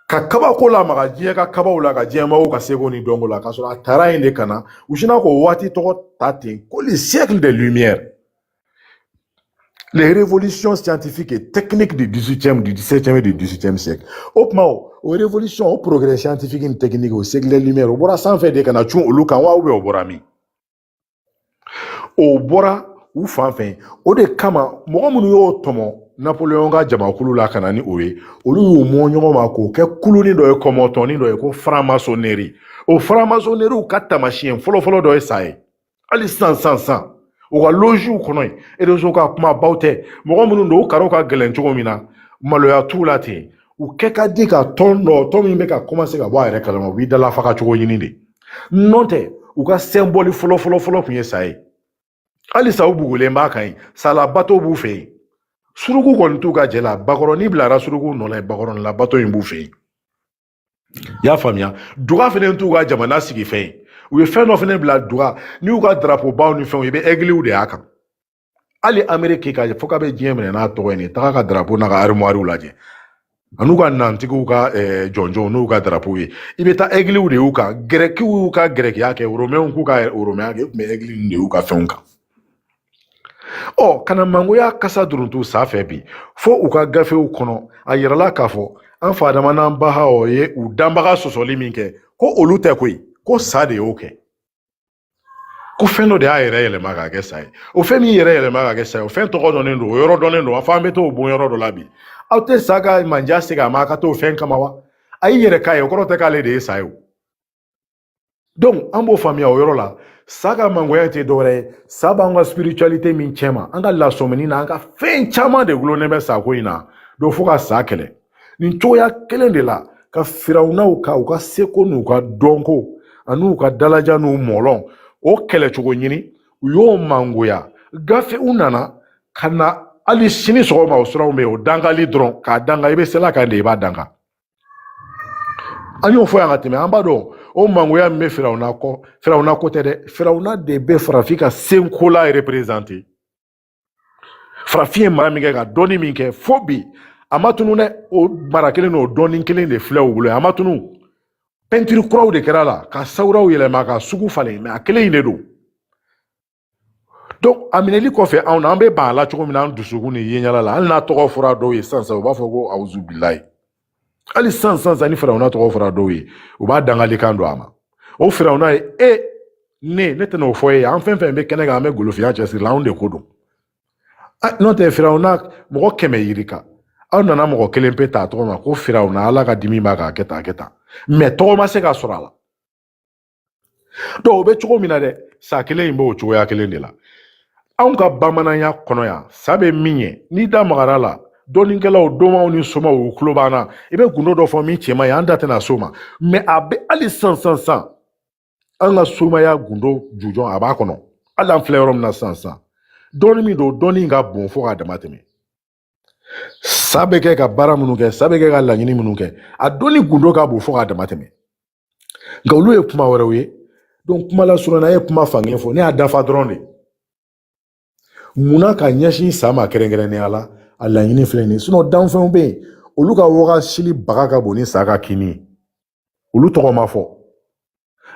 ka kabako lamaga diɲɛ ka kabaw la ka diɲɛmɔgɔw ka seko ni dɔnko la k'a sɔrɔ a taara yen de ka na u sinna k'o waati tɔgɔ da ten ko le siècle des lumières les révolutions scientifiques et techniques du 18e, du 17e et du 18e siècle. O tuma o o révolution o progrès scientifique ni technique o siècle des lumières o bɔra sanfɛ de ka na cun olu kan wa ou bien o bɔra min o bɔra u fan fɛ o de kama mɔgɔ minnu y'o tɔmɔ napoleon ka jamakulu la ka na ni o ye olu y'u mɔ ɲɔgɔn ma k'o kɛ kuluni dɔ ye kɔmɔtɔni dɔ ye ko faramasoneri o faramasoneriw ka tamasiyɛn fɔlɔfɔlɔ dɔ ye sa ye hali sisan sisan u ka loziw kɔnɔ yen erezo ka kumabaw tɛ mɔgɔ minnu don u karaw ka gɛlɛn cogo min na maloya t'u la ten u kɛ ka di ka tɔn dɔ tɔn min bɛ ka kɔmanse ka bɔ a yɛrɛ kalama u b'i dalafaga cogo ɲini de n'o tɛ u ka sɛnbɔli fɔlɔ fɔlɔ fɔlɔ tun ye sa ye halisa u bugulen b'a kan yen salabato b'u fɛ yen suruku kɔni t'u ka jɛ la bakɔrɔni bilara suruku nɔ la bakɔrɔni labato in b'u fɛ yen i y'a faamuya duga fɛnɛ t'u ka jamana sigifɛn ye u ye fɛn dɔ fɛnɛ bila duga n'i y'u ka darapobaw ni fɛnw ye i bɛ ɛgiliw de y'a kan hali ameriki k'a fɔ k'a bɛ diɲɛ minɛ n'a tɔgɔ ye n'i taga a ka darapo n'a ka arimɔriw lajɛ an'u ka nantigiw ka eh, jɔnjɔnw n'u ka darapo ye i bɛ taa egiliw de y'u kan gɛrɛkiw y'u ka gɛrɛkiya kɛ oromɛnw k'u ka oromɛnya kɛ u tun bɛ egili de y'u ka fɛnw kan ɔ ka na mangoya kasa duruntu sa fɛ bi fo u ka gafew kɔnɔ a yirala k'a fɔ an fa adama n'an ba hawa ye u danbaga sɔsɔli min kɛ ko olu tɛ koyi ko sa de y'o kɛ ko fɛn dɔ de y'a yɛrɛ yɛlɛma ka kɛ sa ye o fɛn min y'i yɛrɛ yɛlɛma ka kɛ sa ye o fɛn tɔgɔ dɔnnen don o yɔrɔ dɔnnen don fo an bɛ t'o bon yɔrɔ dɔ la bi aw tɛ sa ka manja segin a ma a ka t'o fɛn kama wa a y'i yɛrɛ k'a ye o kɔrɔ tɛ k'ale de ye sa ye o donc an b'o faamuya o yɔrɔ la sa ka mangoya tɛ dɔwɛrɛ ye sa b'an ka spiritualité min cɛ ma an ka lasɔmini na an ka fɛn caman de gulonnen bɛ sako in na donc fo ka sa kɛlɛ nin cogoya kelen de la ka firawunaw ka u ka seko n'u ka dɔnko ani u ka dalaja n'u mɔlɔn o kɛlɛcogo ɲini u y'o mangoya gafew nana ka na hali sini sɔgɔma o siraw bɛ yen o dangali dɔrɔn k'a danga i bɛ seli kan de i b'a danga an y'o fɔ yan ka tɛmɛ an b'a dɔn o mangoya min bɛ firawuna kɔ firawuna ko tɛ dɛ firawuna de bɛ farafin ka senkola reperezante farafin ye mara min kɛ ka dɔnni min kɛ fo bi a ma tunu dɛ o mara kelen n'o dɔnni kelen de filɛ u bolo a ma tunu pɛntiri kuraw de kɛr'a la ka sawuraw yɛlɛma ka sugu falen mɛ a kelen in de don donc a minɛli kɔfɛ anw na an bɛ ban a la cogo min na an dusukun ni yeɲɛla la hali n'a tɔgɔ fɔra dɔw ye sisan sisan u b'a fɔ ko awuzubilayi hali sisan sisan sisan ni firawuna tɔgɔ fɔra dɔw ye u b'a dangalikan don a ma o firawuna ye e ne ne tɛna o fɔ e ye an fɛn fɛn bɛ kɛnɛ kan an bɛ golofinya cɛsiri la anw de ko don n'o tɛ firawuna mɔgɔ kɛmɛ yirika aw nana mɔgɔ kelen pe ta tɔgɔ ma ko firawuna ala ka dimi b'a kan a kɛ tan a kɛ tan mais tɔgɔ ma se ka sɔrɔ a la donc o bɛ cogo min na dɛ sa kelen in b'o cogoya kelen de la anw ka bamananya kɔnɔ yan sa bɛ min ye n'i da magara la dɔnnikɛlaw donmaw ni somaw u tulo b'an na i bɛ gundo dɔ fɔ min tiɲɛman ye an da tɛna s'o ma mais a bɛ hali sisan sisan an ka somaya gundo jujɔn a b'a kɔnɔ hali an filɛ yɔrɔ min na sisan dɔnni min don dɔnni ka bon fo k'a dama tɛmɛ sa bɛ kɛ ka baara minnu kɛ sa bɛ kɛ ka laɲini minnu kɛ a dɔnni gundo ka bon fo k'a dama tɛmɛ nka olu ye kuma wɛrɛw ye donc kuma lasurunya ye kuma fankelen fɔ ne y'a dafa dɔrɔn de munna ka ɲɛsin sa ma kɛrɛnkɛrɛnnenya la a laɲini filɛ nin ye sinon danfɛnw bɛ yen olu ka wagasili baga ka bon ni sa ka kinni ye olu tɔgɔ ma fɔ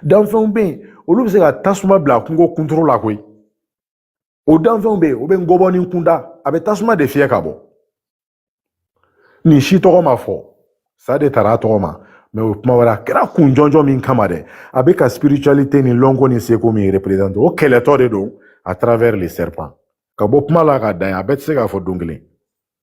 danfɛnw bɛ yen olu bɛ se ka tasuma bila kungo kunturu la koyi o danfɛnw bɛ yen o bɛ ngɔbɔnin kunda a bɛ tasuma de fiyɛ ka bɔ nin si tɔgɔ ma fɔ sa de taara a tɔgɔ ma mais o ye kuma wɛrɛ a kɛra kun jɔnjɔn min kama dɛ a bɛ ka spiritualité ni lɔnko ni seko min représente o kɛlɛtɔ de don à travers les serpents ka bɔ kuma la ka dan a bɛɛ tɛ se ka fɔ don kelen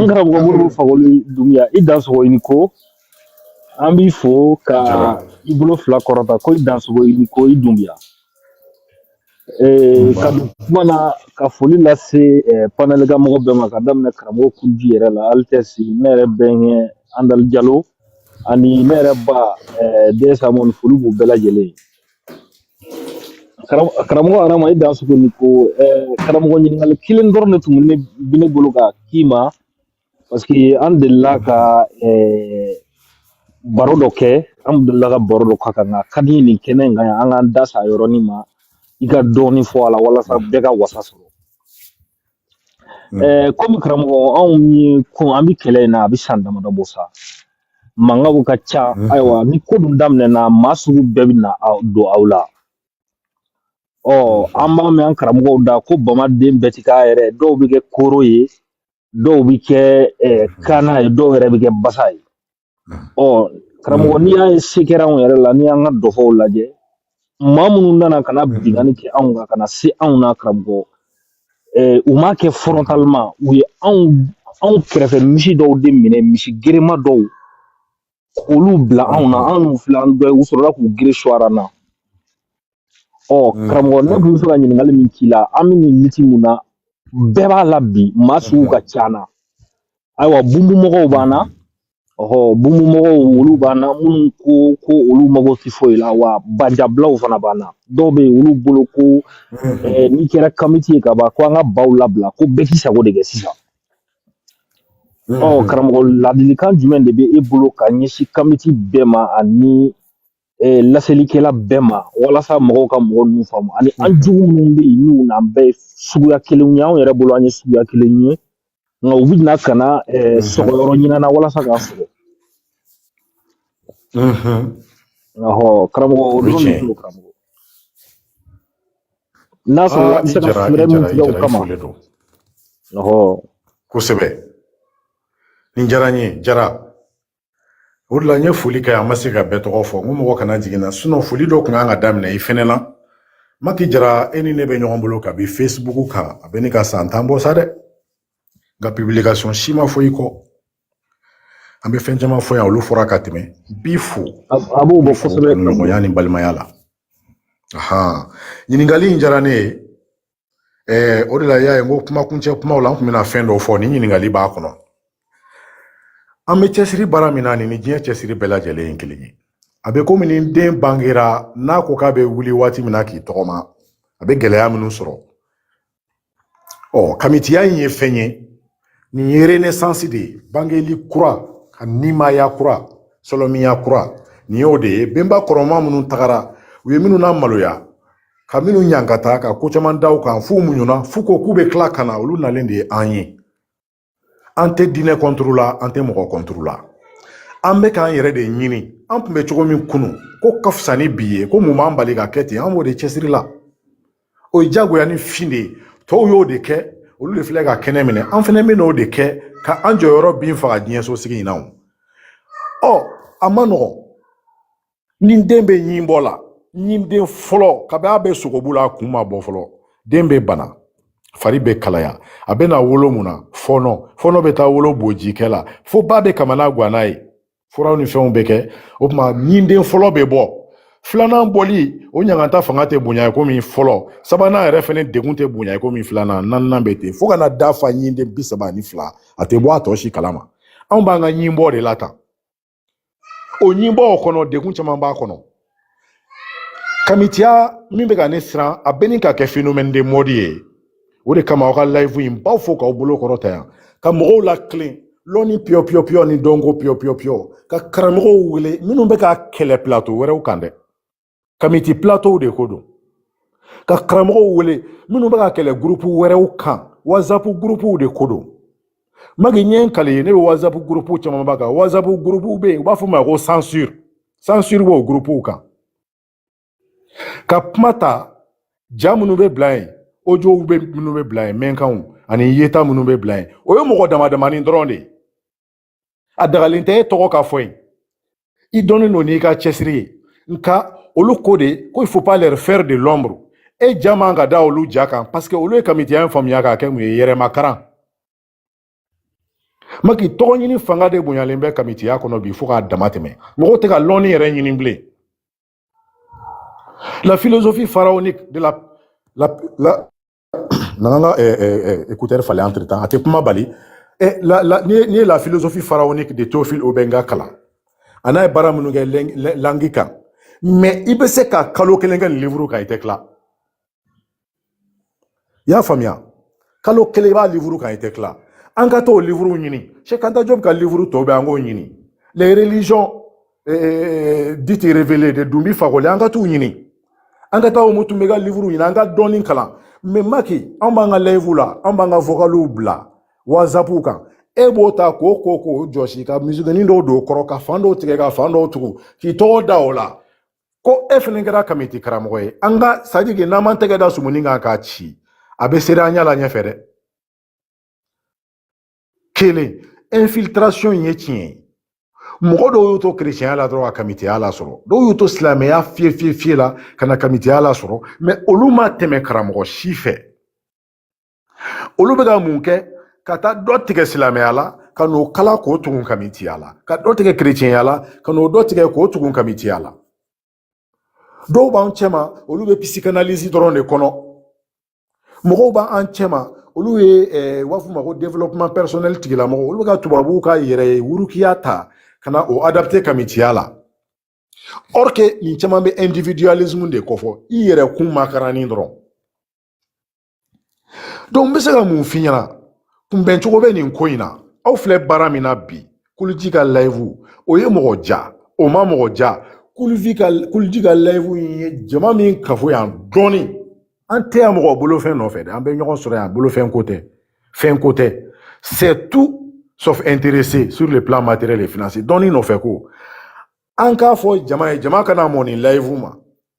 n karamɔgɔ modibo fakoli dunbiya i dansogo i ni ko an b'i fo ka Jara. i bolo fila kɔrɔta ko i dansogo i ni ko i dunbiya Nba. Eh, ka don kuma na ka foli lase eh, panɛli ka mɔgɔ bɛɛ ma ka daminɛ karamɔgɔ kuji yɛrɛ la Altesse ne yɛrɛ bɛnkɛ andali jalo ani ne yɛrɛ ba eh, dɛsɛ mɔni foli b'u bɛɛ lajɛlen ye. karamɔgɔ arama i dansogo ni ko karamɔgɔ ɲininkali kelen dɔrɔn de tun bɛ ne bolo ka k'i ma parce que an delila ka eh, baro dɔ kɛ an delila ka baro dɔ k'a kan nka ka di n ye nin kɛnɛ in kan yan an k'an da s'a yɔrɔnin ma i ka dɔɔnin fɔ a la walasa bɛɛ ka wasa sɔrɔ Mm. Eh, komi karamɔgɔ anw ye ko an bɛ kɛlɛ in na a bɛ san damadɔ bɔ sa mankanw ka ca mm. ayiwa ni ko dun daminɛna maa sugu bɛɛ bɛ na aw- don aw la ɔ mm-hmm. an b'a mɛn an karamɔgɔw da ko bamaden bɛɛ ti k'a yɛrɛ dɔw bɛ kɛ kooro ye dɔw bɛ kɛ eh, mm-hmm. kana ye dɔw yɛrɛ bɛ kɛ basa ye ɔ karamɔgɔ n'i y'a ye se kɛra anw yɛrɛ la n'i y'an ka dɔfɔw lajɛ maa minnu nana ka na binkanni kɛ anw kan ka na se anw na karamɔgɔ eh, u m'a kɛ frontalement u ye anw anw kɛrɛfɛ misi dɔw de minɛ misi gerema dɔw k'olu bila anw na anw n'u filɛ an dɔ ye u sɔrɔla k'u gere suwara na ɔ mm. karamɔgɔ ne tun bɛ fɛ ka ɲininkali min k'i la an bɛ nin liti mun na bɛɛ b'a la bi maa sugu ka ca an na ayiwa bunbunmɔgɔw b'an na ɔhɔ bunbunmɔgɔw olu b'an na minnu ko ko olu mago tɛ foyi la wa banjabulaw fana b'an na dɔw bɛ yen olu bolo ko mm-hmm. eh, n'i kɛra kamiti ye ka ban ko an ka baw labila ko bɛɛ k'i sago de kɛ sisan mm-hmm. ɔ karamɔgɔ ladilikan jumɛn de bɛ e bolo ka ɲɛsin kamiti bɛɛ ma ani eh, laselikɛla bɛɛ ma walasa mɔgɔw ka mɔgɔ ninnu faamu ani an mhm. jugu minnu bɛ yen n'u n'an bɛɛ ye suguya kelen ye anw yɛrɛ bolo an ye suguya kelen ye nka u bɛna ka na eh, mhm. sɔgɔyɔrɔ ɲini an na walasa k'a sɔgɔ mhm. ɔhɔ karamɔgɔ o dɔrɔn de don karamɔgɔ n'a sɔrɔ ah, an bɛ se ka fɛɛrɛ min tigɛ o kama ɔhɔ kosɛbɛ nin diyara n ye jara o de la n ye foli kɛ n ma se ka bɛɛ tɔgɔ fɔ n ko mɔgɔ kana jigi n na sinɔn foli dɔ kun kan ka daminɛ i fɛnɛ na maki jara e ni ne bɛ ɲɔgɔn bolo kabi fesibuku kan a bɛ ɲini ka san tan bɔ sa dɛ nka pibilikasɔn si ma fɔ i kɔ an bɛ fɛn caman fɔ yan olu fɔra ka tɛmɛ bi fo a b'o bɔ kosɛbɛ nɔgɔya ni balimaya la ahan ɲininkali in diyara ne ye Ɛɛ o de la i y'a ye n ko kuma kuncɛ kumaw la n kun bɛna fɛn dɔw fɔ ni ɲininkali b'a kɔnɔ an bɛ cɛsiri baara min na nin ni diɲɛ cɛsiri bɛɛ lajɛlen ye kelen ye a bɛ komi ni den bangera n'a ko k'a bɛ wuli waati min na k'i tɔgɔma a bɛ gɛlɛya minnu sɔrɔ ɔ kamitiya in ye fɛn ye nin ye renaissance de ye bangeli kura ka nimaya kura sɔlɔmiya kura nin y'o de ye benba kɔrɔma minnu tagara u ye minnu namaloya ka minnu ɲankata ka ko caman da u kan f'u muɲuna f'u ko k'u bɛ tila ka na olu nalen de ye an ye an tɛ diinɛ kɔnturu la an tɛ mɔgɔ kɔnturu la an bɛ k'an yɛrɛ de ɲini an tun bɛ cogo min kunu ko ka fisa ni bi ye ko mun b'an bali ka kɛ ten an b'o de cɛsiri la o ye jagoya ni fin de ye tɔw y'o de kɛ olu de filɛ ka kɛnɛ minɛ an fɛnɛ bɛ n'o de kɛ ka an jɔyɔrɔ bin faga diɲɛ so sigi in na o ɔ a ma nɔgɔn ni den bɛ ɲin bɔ la ɲinden fɔlɔ kabi a bɛ sogobu la a kun ma bɔ fɔlɔ den bɛ bana fari bɛ kalaya a bɛ na wolo mun na fɔɔnɔ fɔɔnɔ bɛ taa wolo bojikɛ la fo ba bɛ kamana gwan n'a ye furaw ni fɛnw bɛ kɛ o tuma ɲinden fɔlɔ bɛ bɔ filanan bɔli o ɲangata fanga tɛ bonya i komi fɔlɔ sabanan yɛrɛ fɛnɛ degun tɛ bonya i komi filanan naaninan bɛ ten fo ka na da fa ɲinden bi saba ani fila a tɛ bɔ a tɔ si kalama anw b'an ka ɲinbɔ de la tan o ɲinbɔ kɔnɔ degun caman b'a kɔnɔ kamitiya min bɛ ka ne siran a bɛ ɲini ka kɛ phénomène de mode ye o de kama aw ka live in b'aw fo k'aw bolo kɔrɔta yan ka mɔgɔw latilen lɔnni piyɔ piyɔ piyɔ ni dɔnko piyɔ piyɔ piyɔ ka karamɔgɔw wele minnu bɛ ka kɛlɛ plateau wɛrɛw kan dɛ kamiti plateau de ko don ka karamɔgɔw wele minnu bɛ ka kɛlɛ gurupu wɛrɛw kan whatsapp gurupuw de ko don maki ɲɛ n kale ye ne bɛ whatsapp gurupu camanba kan whatsapp gurupuw bɛ yen u b'a fɔ o ma ko censure censure b'o gurupuw kan ka kuma ta ja minnu bɛ bila yen audiow bɛ minnu bɛ bila yen mɛnkanw ani yeta minnu bɛ bila yen o ye mɔgɔ damadamanin dɔrɔn de ye a dagalen tɛ e tɔgɔ ka fɔ yen i dɔnnen don n'i ka cɛsiri ye nka olu ko de ko il faut pas leur faire de l'ombre e ja man ka da olu ja kan parce que olu ye kamitiya in faamuya k'a kɛ mun ye yɛrɛmakaran maki tɔgɔɲini fanga de bonyalen bɛ kamitiya kɔnɔ bi fo k'a dama tɛmɛ mɔgɔw tɛ ka lɔnni yɛrɛ ɲini bilen la philosophie pharaonique de la, la, la nana n ka écouteur falen an a tɛ kuma bali la la n'i ye n'i ye la philosophie pharaonique de théophile obenga kalan an'a ye baara minnu kɛ langue kan mais i bɛ se ka kalo kelen kɛ livre kan i tɛ tila i y'a faamuya kalo kelen i b'a livre kan i tɛ tila an ka t'o livre ɲini cheikh anta diop ka livre tɔw bɛɛ an k'o ɲini les religions eh, dites révélées de doumbi fakoly an ka t'u ɲini an ka taa omotunde ka livre ɲini an ka dɔɔni kalan mais maki an b'an ka live la an b'an ka vocaliw bila whatsapp kan e b'o ta k'o ko k'o jɔsi ka misikinin dɔw don o kɔrɔ ka fan dɔw tigɛ ka fan dɔw tugu k'i tɔgɔ da o la ko e fɛnɛ kɛra kamiti karamɔgɔ ye an ka sadiki n'an m'an tɛgɛ da sumuni kan k'a ci a bɛ seri an ɲɛ la ɲɛfɛ dɛ kelen infiltration ye tiɲɛ ye mɔgɔ dɔw y'u to kerecɛnya la dɔrɔn ka kamitiya lasɔrɔ dɔw y'u to silamɛya fiye fiye fiye la ka na kamitiya lasɔrɔ mais olu ma tɛmɛ karamɔgɔ si fɛ olu bɛ ka mun kɛ ka taa dɔ tigɛ silamɛya la ka n'o kala k'o tugun kamitiya la ka dɔ tigɛ kerecɛnya la ka n'o dɔ tigɛ k'o tugun kamitiya la dɔw b'an cɛma olu bɛ psychanalyse dɔrɔn de kɔnɔ mɔgɔw b'an cɛma olu ye eh, u b'a fɔ ma ko développement personnel tigilamɔgɔ olu bɛ ka tubabuw ka yɛrɛ wurukiya ta ka na o adapter kamitiya la or que nin caman bɛ individualisme de kofɔ i yɛrɛ kun makaranni dɔrɔn n bɛ se ka mun f'i ɲɛna kunbɛn cogo bɛ nin ko in na aw filɛ baara min na bi kuluji ka live o ye mɔgɔ ja o ma mɔgɔ ja kuluji ka kuluji ka live in ye jama min kafo yan dɔɔni an tɛ yan mɔgɔ bolofɛn nɔfɛ dɛ an bɛ ɲɔgɔn sɔrɔ yan bolofɛn ko tɛ fɛn ko tɛ c'est tout sauf intéressé sur le plan matériel et financier dɔnni nɔfɛ ko an k'a fɔ jama ye jama kana mɔ nin live ma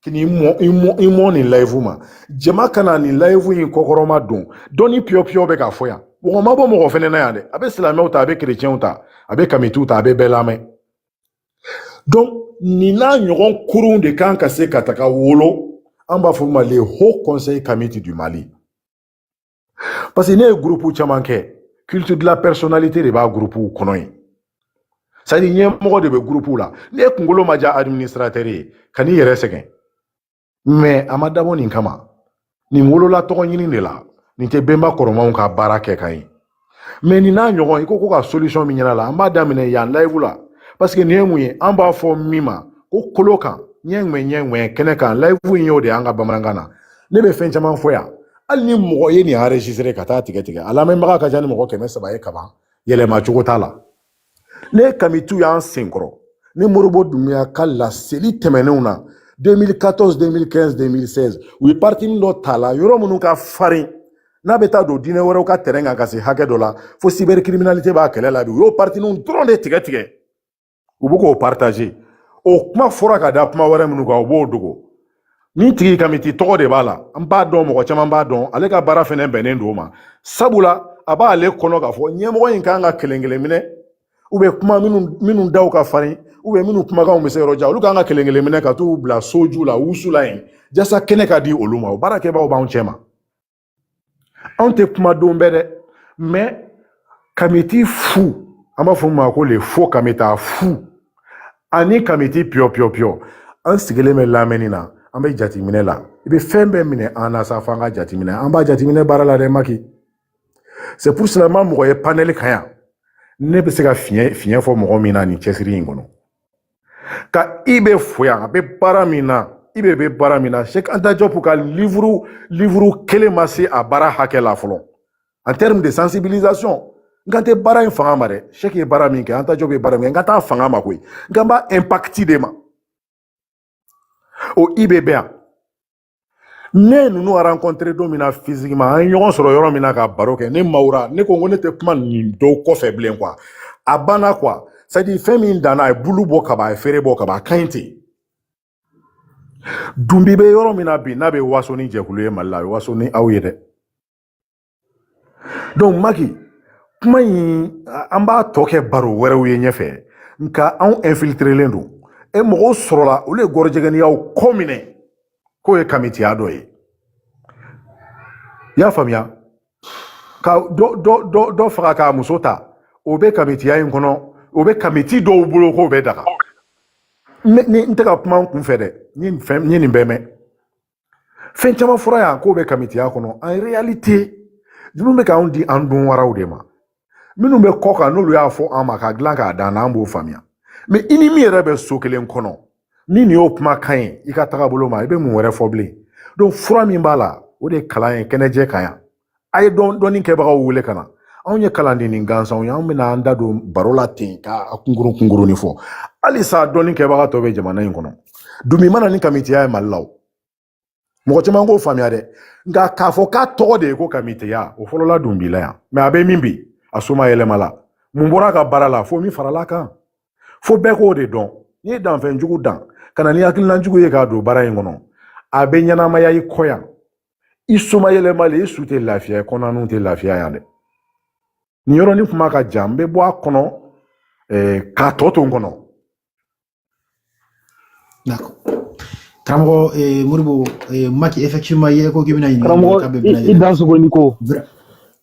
kini i mɔ nin live ma jama ka na nin live in kɔkɔrɔma don dɔɔni piyɔpiyɔ bɛ k'a fɔ yan mɔgɔ ma bɔ mɔgɔ fɛnɛ na yan dɛ a bɛ silamɛw ta a bɛ kerecɛnw ta a bɛ kamitiw ta a bɛ bɛɛ lamɛn donc nin n'a ɲɔgɔn kurunw de kan ka se ka taga wolo an b'a fɔ ma le haut conseil kamiti du mali parce que ne ye gurupu caman kɛ culture de la personnalité de b'a gurupuw kɔnɔ yen c'est à dire ɲɛmɔgɔ de bɛ gurupuw la n'e kunkolo ma diya administrateur ye kan'i yɛrɛ sɛgɛn mais a ma dabɔ nin kama nin wolola tɔgɔ ɲini de la nin tɛ bɛnba kɔrɔmanw ka baara kɛ ka ye mais nin n'a ɲɔgɔn i ko ko ka solution min ɲɛna la an b'a daminɛ yan live la parce que nin ye mun ye an b'a fɔ min ma ko kolo kan ɲɛ ŋɛ ɲɛ ŋɛ kɛnɛ kan live in y'o de y'an ka bamanankan na ne bɛ fɛn caman fɔ yan hali ni mɔgɔ ye nin enregistré ka t'a tigɛ tigɛ a lamɛnbaga ka ca ni mɔgɔ kɛmɛ saba ye kaban yɛlɛma cogo t'a la ne kamitiw y'an senkɔrɔ ni moribo dunbiya ka laseli tɛmɛnenw na 2014 2015 2016 u ye partini dɔ t'a la yɔrɔ minnu ka farin n'a bɛ taa don diinɛ wɛrɛw ka terrain kan ka se hakɛ dɔ la fo cybercriminalité b'a kɛlɛ la bi u y'o partiniw dɔrɔn de tigɛ tigɛ u bɛ k'o partager o kuma fɔra ka da kuma wɛrɛ minnu kan u b'o dogo nin tigi kamiti tɔgɔ de b'a la an b'a dɔn mɔgɔ caman b'a dɔn ale ka baara fɛnɛ bɛnnen don o ma sabula a b'ale kɔnɔ k'a fɔ ɲɛmɔgɔ in kan ka kelen kelen minɛ u bɛ kuma minnu minnu daw ka farin ou bien minnu kumakanw bɛ se yɔrɔ jan olu kan ka kelen kelen minɛ ka t'u bila soju la wusu la yen jasa kɛnɛ ka di olu ma o baarakɛbaaw b'anw cɛ ma anw tɛ kuma don bɛɛ dɛ mais kamiti fu an b'a fɔ ma ko le faux kamita fu ani kamiti piyɔ piyɔ piyɔ an sigilen bɛ lamɛnni na an bɛ jateminɛ la i bɛ fɛn bɛɛ minɛ an na sauf an ka jateminɛ an b'a jateminɛ baara la dɛ maki c'est pour cela n ma mɔgɔ ye panel kan yan ne bɛ se ka fiɲɛ fiɲɛ fɔ mɔgɔ min na nin cɛsiri in kɔnɔ ka ibe fo yan a bɛ baara min na ibe bɛ baara min na cheikh anta diop ka livre livre kelen ma se a baara hakɛ la fɔlɔ en termes de sensibilisation n kan tɛ baara in fanga ma dɛ cheikh ye baara min kɛ anta diop ye baara min kɛ n kan t'a fanga ma koyi n kan b'a impact de ma o ibe bɛ yan ne ye ninnu rencontré don min na physiquement an ye ɲɔgɔn sɔrɔ yɔrɔ min na ka baro kɛ ne mawura ne ko ko ne tɛ kuma nin dɔw kɔfɛ bilen quoi a banna quoi c'est à dire fɛn min danna a ye bulu bɔ kaban a ye feere bɔ kaban a ka ɲi ten dunbi bɛ yɔrɔ min na bi n'a bɛ waso ni jɛkulu ye mali la a bɛ waso ni aw ye dɛ donc maki kuma in an b'a tɔ kɛ baro wɛrɛw ye ɲɛfɛ nka anw infiltrelen don e mɔgɔw sɔrɔla olu ye gɔrɔjɛgɛniyaw kɔ minɛ k'o ye kamitiya dɔ ye i y'a faamuya ka dɔ dɔ dɔ dɔ faga k'a muso ta o bɛ kamitiya in kɔnɔ o bɛ kamiti dɔw bolo k'o bɛ daga n tɛ ka kuma n kun fɛ dɛ n ye nin bɛɛ mɛn fɛn caman fɔra yan k'o bɛ kamitiya kɔnɔ en réalité minnu bɛ k'anw di an dun waraw de ma minnu bɛ kɔ kan n'olu y'a fɔ an ma ka dilan k'a dan an b'o faamuya mais i ni min yɛrɛ bɛ so kelen kɔnɔ ni nin y'o kumakan ye i ka tagabolo ma i bɛ mun wɛrɛ fɔ bilen donc fura min b'a la o de ye kalan ye kɛnɛjɛ kan yan a ye dɔn dɔnni kɛbagaw wele ka na anw ye kalandennin gansanw ye anw bɛna an da don baro la ten ka a kunkurun kunkurunnin fɔ halisa dɔnni kɛbaga tɔ bɛ jamana in kɔnɔ dunbi ma na ni kamitiya ye mali la o mɔgɔ caman k'o faamuya dɛ nka k'a fɔ k'a tɔgɔ de ye ko kamitiya o fɔlɔla dunbi la yan mais a bɛ min bi a somayɛlɛmala mun bɔra a ka baara la fo min farala kan fo bɛɛ k'o de dɔn n'i ye danfɛn jugu dan ka na ni hakilina jugu ye k'a don baara in kɔnɔ a bɛ ɲɛnamaya i kɔ yan i somayɛlɛmalen i su tɛ lafiya yen kɔnɔnaw tɛ lafiya yan dɛ nin yɔrɔnin kuma ka jan n bɛ bɔ a kɔnɔ k'a tɔ to n kɔnɔ karamɔgɔ moribo maki effectivement i yɛrɛ ko k'i bɛna ɲininka karamɔgɔ i dansogo i ni ko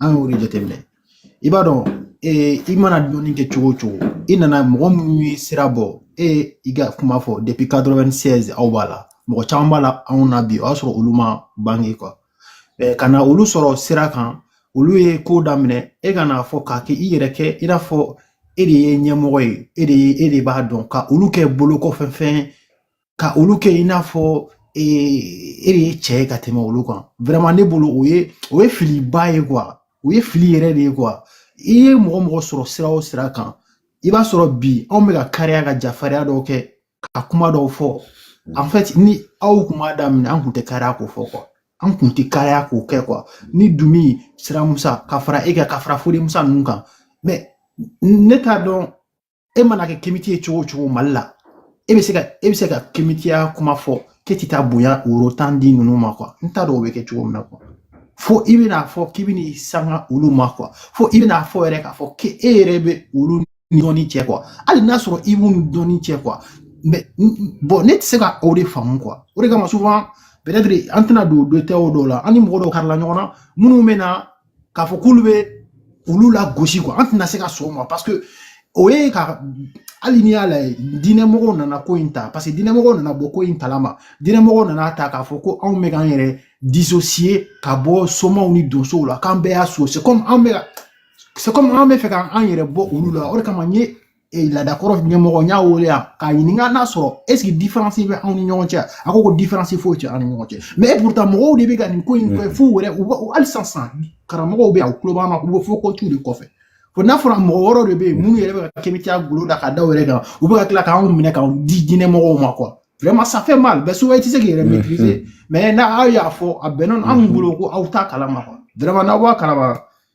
an y'o de jateminɛ i b'a dɔn ee i mana dɔnni kɛ cogo o cogo i nana mɔgɔ minnu ye sira bɔ e i ka kuma fɔ depuis 96 aw b'a la mɔgɔ caman b'a la anw na bi o y'a sɔrɔ olu ma bange quoi ka na olu sɔrɔ sira kan olu ye ko daminɛ e ka n'a fɔ k'a kɛ i yɛrɛ kɛ i n'a fɔ e de ye ɲɛmɔgɔ ye e de ye e de b'a dɔn ka olu kɛ bolokɔfɛfɛn ka olu kɛ i n'a fɔ e e de ye cɛ ye ka tɛmɛ olu kan vraiment ne bolo o ye o ye filiba ye quoi o ye fili yɛrɛ de ye quoi i ye mɔgɔ mɔgɔ sɔrɔ sira o sira kan i b'a sɔrɔ bi anw bɛ ka kariya ka jafariya dɔw kɛ ka kuma dɔw fɔ en fait ni aw kun m'a daminɛ an kun tɛ kariya k'o fɔ quoi an kun tɛ kariya k'o kɛ quoi ni dunbi siramusa ka fara e kan ka fara fode musa ninnu kan mais ne t'a dɔn e mana kɛ kemiti ye cogo o cogo mali la e bɛ se ka e bɛ se ka kemitiya kuma fɔ k'e tɛ taa bonya woro tan di ninnu ma quoi n t'a dɔn o bɛ kɛ cogo min na quoi fo i bɛna fɔ k'i bɛna i sanga olu ma quoi fo i bɛna fɔ yɛrɛ k'a fɔ k'e yɛrɛ bɛ olu dɔnni cɛ quoi hali n'a sɔrɔ i b'u dɔnni cɛ quoi mais bon ne tɛ se ka o de faamu quoi o de kama souvent peut-être an tɛna don detail dɔw la an ni mɔgɔ dɔw karila ɲɔgɔn na minnu bɛ na k'a fɔ k'olu bɛ olu lagosi quoi an tɛna se ka sɔn o ma parce que o ye ka hali n'i y'a lajɛ diinɛmɔgɔw nana ko in ta parce que diinɛmɔgɔw nana bɔ ko in kalama diinɛmɔgɔw nana ta k'a fɔ ko anw bɛ k'an yɛrɛ dissocier ka bɔ somaw ni donsow la k'an bɛɛ y'a so c'est comme anw b'a fɛ k'an yɛrɛ bɔ olu la o de kama n ye ee laadakɔrɔ ɲɛmɔgɔ n y'a wele yan k'a ɲininka n'a sɔrɔ est ce que différence bɛ anw ni ɲɔgɔn cɛ a ko ko différence foyi tɛ an ni ɲɔgɔn cɛ mais pourtant mɔgɔw de bɛ ka nin ko in kɛ f'u yɛrɛ u b'a hali sisan sisan karamɔgɔw bɛ yan u tulo b'an na u b'a fɔ ko tu de kɔfɛ fo n'a fɔra mɔgɔ wɔɔrɔ de bɛ yen minnu yɛrɛ bɛ ka kɛmɛtiya golo da ka da yɛrɛ kan u bɛ ka tila k'anw minɛ k'anw di diinɛmɔgɔw ma quoi vraiment ça fait mal mais souvent i tɛ se k'i yɛrɛ maîtriser mais n'aw y'a fɔ a bɛnna anw bolo ko aw t'a kalama quoi vraiment n'aw b'a kalama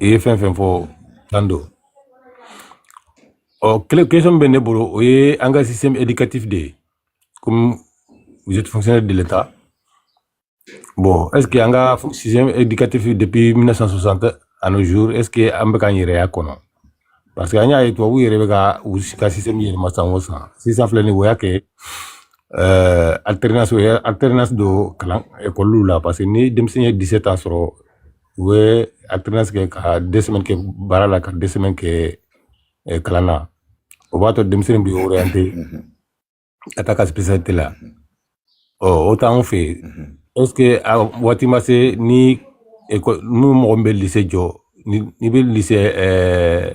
i ye fɛn fɛn fɔ tan don ɔ question bɛ ne bolo o ye an ka système éducatif de ye comme vous êtes fonctionnaire de l'État bon est ce que an ka système éducatif depuis 1960 à nos jours est ce que an bɛ k'an yɛrɛ y'a kɔnɔ parce que an y'a ye tubabuw yɛrɛ bɛ ka u ka système yɛlɛma san o san sisan filɛ nin ye o y'a kɛ euh, alternance u ye alternance don kalan ekɔliw la parce que ni denmisɛn ye 17 ans sɔrɔ u bɛ alternance kɛ ka deux semaines kɛ baara la ka deux semaines kɛ eh, kalan na o b'a to denmisɛnnin bɛ orienté ka taa a ka spécialité la ɔ o t'anw fɛ yen est ce que a waati ma se ni école n'u mɔgɔ min bɛ lycée jɔ ni n'i bɛ lycée ɛɛ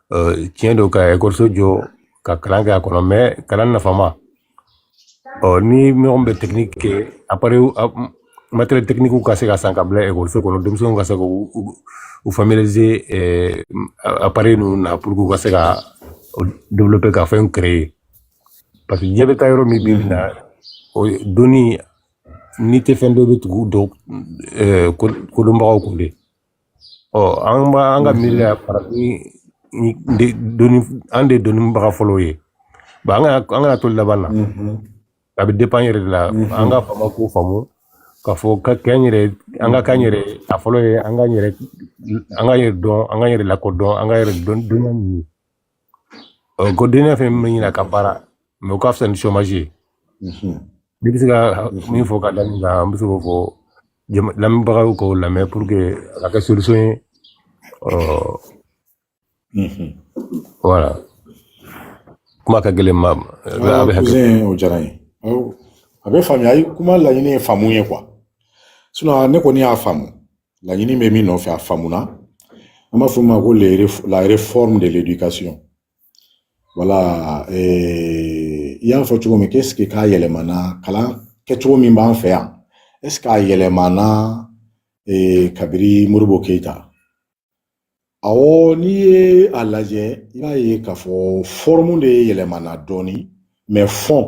tiɲɛ don ka ekɔliso jɔ ka kalan kɛ a kɔnɔ mais kalan nafama ɔ ni mɔgɔ bɛ technique kɛ a matériel techniquew ka se ka san ka bila ekɔliso kɔnɔ denmisɛnninw ka se ka u familiariser appareil ninnu na pour que u ka se ka développer ka fɛn créer parce que diɲɛ bɛ taa yɔrɔ min bi na o donni n'i tɛ fɛn dɔn i bɛ tugu dɔn kodɔnbagaw kɔ de Ɔ an b'a an ka miiri la farafin de dɔnni an de dɔnnibaga fɔlɔ ye ba an kana to laban na a bɛ dépend an yɛrɛ de la an ka faama k'o faamu k'a fɔ ka kɛ an yɛrɛ an ka k'an yɛrɛ ye. a fɔlɔ ye an k'an yɛrɛ an k'an yɛrɛ dɔn an k'an yɛrɛ lakodɔn an ka yɛrɛdɔn dɔnniya ɲini ko dɔnniya fɛn min bɛ ɲini a ka baara mais o ka fisa ni chômage ye Mhm. n'i bɛ se ka min fɔ ka da nin kan an bɛ se k'o fɔ jama- lamɛnbagaw k'o lamɛn pour que a ka kɛ solution ye ɔ Mhm. voilà kuma ka gɛlɛn ma Aa, a bɛ hakɛ cousin o diyara n ye Aw, a bɛ faamuya ayi kuma laɲini ye faamu ye quoi sinon ne kɔni y'a faamu laɲini bɛ min nɔfɛ a faamuna an b'a fɔ min ma ko la réforme de l'éducation voilà eh, i y'a fɔ cogo min qu'est-ce que k'a yɛlɛmana kalan kɛcogo min b'an fɛ yan est-ce k'a yɛlɛmana eh, kabiri modibo keyita awɔ n'i ye a lajɛ i b'a ye k'a fɔ forme de yɛlɛmana dɔɔni mais fond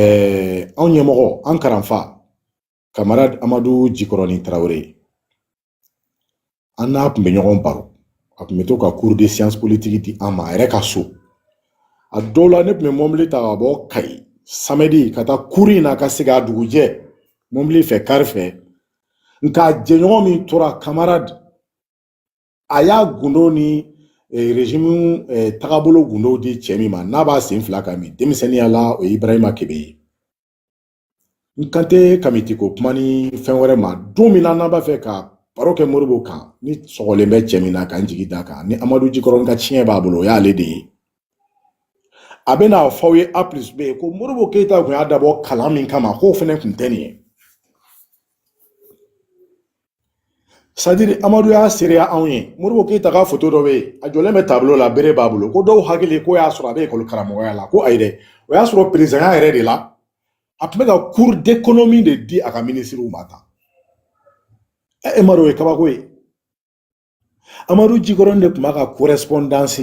ɛɛ anw ɲɛmɔgɔ an karanfa camarade amadu jikɔrɔni tarawele an n'a tun bɛ ɲɔgɔn baro a tun bɛ to ka cours de science politique di an ma a yɛrɛ ka so a dɔw la ne tun bɛ mɔbili ta ka bɔ kayi samedi ka taa cours in na ka segin a dugujɛ mɔbili fɛ kari fɛ nka jɛɲɔgɔn min tora camarade a y'a gundo ni eh, régime eh, tagabolo gundow di cɛ min ma n'a b'a sen fila kan min denmisɛnninya la o ye ibrahima kebe ye n kan tɛ kamiti ko kuma ni fɛn wɛrɛ ma don min na n'an b'a fɛ ka baro kɛ modibo kan ni sɔgɔlen bɛ cɛ min na k'an jigi da kan ni amadu jikɔrɔni ka tiɲɛ b'a bolo o y'ale de ye a bɛ n'a fɔ aw ye a plus b ko modibo keyita tun y'a dabɔ kalan min kama k'o fana tun tɛ nin ye c'est-à-dire amadu y'a seereya anw ye modibo keyita ka foto dɔ bɛ yen a jɔlen bɛ tableau la bere b'a bolo ko dɔw hakili k'o y'a sɔrɔ a bɛ ekɔli karamɔgɔya la ko ayi dɛ o y'a sɔrɔ perezidanya yɛrɛ de la a tun bɛ ka cours d'économie de di a ka minisiriw ma tan e m'a dɔn o ye kabako ye amadu jikɔrɔni de tun b'a ka correspondance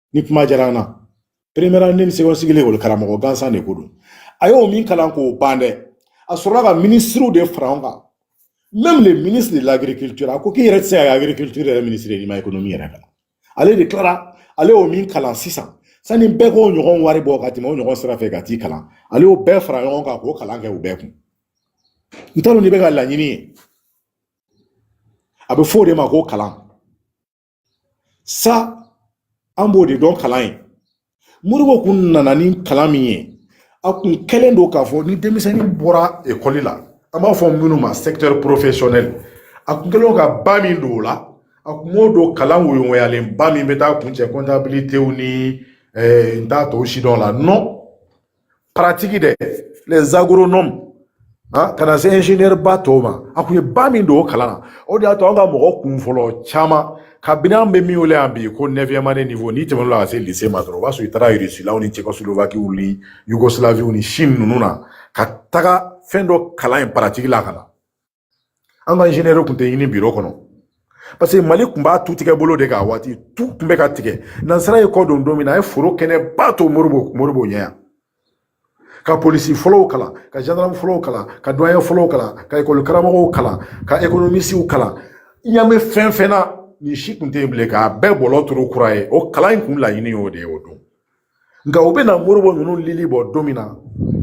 ni kuma diyara an na première année ni second cycle ekɔli karamɔgɔ gansan de ko don a y'o min kalan k'o ban dɛ a sɔrɔla ka minisiriw de fara ɲɔgɔn kan même le ministre de l'agriculture a ko k'i yɛrɛ tɛ se ka kɛ agriculture yɛrɛ ministre ye n'i ma économie yɛrɛ kalan ale de tilara ale y'o min kalan sisan sani bɛɛ k'o ɲɔgɔn wari bɔ ka tɛmɛ o ɲɔgɔn sira fɛ ka t'i kalan ale y'o bɛɛ fara ɲɔgɔn kan k'o kalan kɛ u bɛɛ kun n t'a dɔn n'i bɛ ka laɲini ye a bɛ fɔ o de ma ko kalan sa an b'o de dɔn kalan ye modibo kun nana ni kalan min ye a kun kɛlen don k'a fɔ ni denmisɛnnin bɔra ekɔli la an b'a fɔ minnu ma secteur professionnel a kun kɛlen don ka ba min don o la a kun m'o don kalan woyogoyalen ba min bɛ taa kuncɛ comptabilité ni eh, n t'a tɔw si dɔn la non pratique dɛ les agronomes Ah, ka na se ingénieur ba tɔw ma a kun ye ba min don o kalan na o de y'a to an ka mɔgɔ kun fɔlɔ caman kabini an bɛ min wele yan bi ko neuvième année niveau n'i tɛmɛn'o la ka se lycée ma dɔrɔn o b'a sɔrɔ i taara irisilaw ni cɛkɔsolovakiw ni yugosilaviw ni chine ninnu na ka taga fɛn dɔ kalan yen pratique la ka na an ka inzinɛriw tun tɛ ɲini biro kɔnɔ parce que mali tun b'a tu tigɛ bolo de k'a waati tu tun bɛ ka tigɛ nansara ye kɔ don don min na a ye foro kɛnɛ ba to modibo ɲɛ yan ka polisi fɔlɔw kalan ka gendarme fɔlɔw kalan ka douanier fɔlɔw kalan ka ekɔli karamɔgɔw kalan ka ekonomisiw kalan ɲamɛ fɛn fɛn na nin si tun tɛ yen bilen k'a bɛɛ bɔlɔ turu kura ye o kalan in kun laɲini y'o de ye o don nka u bɛna modibo ninnu lili bɔ don min na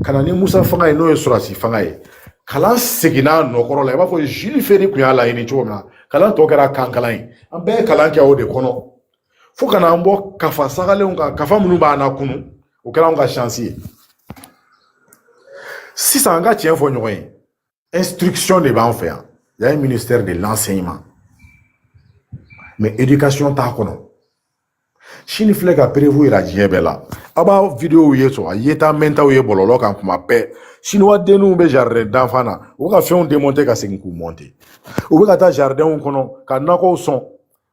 ka na ni musa fanga ye n'o ye sɔrɔsi fanga ye kalan seginna a nɔ kɔrɔ la i b'a fɔ jules ferry tun y'a laɲini cogo min na kalan tɔ kɛra kankalan ye an bɛɛ ye kalan kɛ o de kɔnɔ fo ka n'an bɔ kafa sagalenw kan kafa minnu b'an lakunu o kɛra anw ka sansi ye sisan an ka tiɲɛ fɔ ɲɔgɔn ye instruction de b'an fɛ yan yan ye ministère de l'enseignement mais éducation t'a kɔnɔ sini filɛ ka preuve yira diɲɛ bɛɛ la aw b'a videow ye sɔrɔ a yeta mɛntaw ye bɔlɔlɔ kan kuma bɛɛ siniwa denninw bɛ jardin d'enfants na u bɛ ka fɛnw demonte ka segin k'u monte u bɛ ka taa jardinw kɔnɔ ka nakɔw sɔn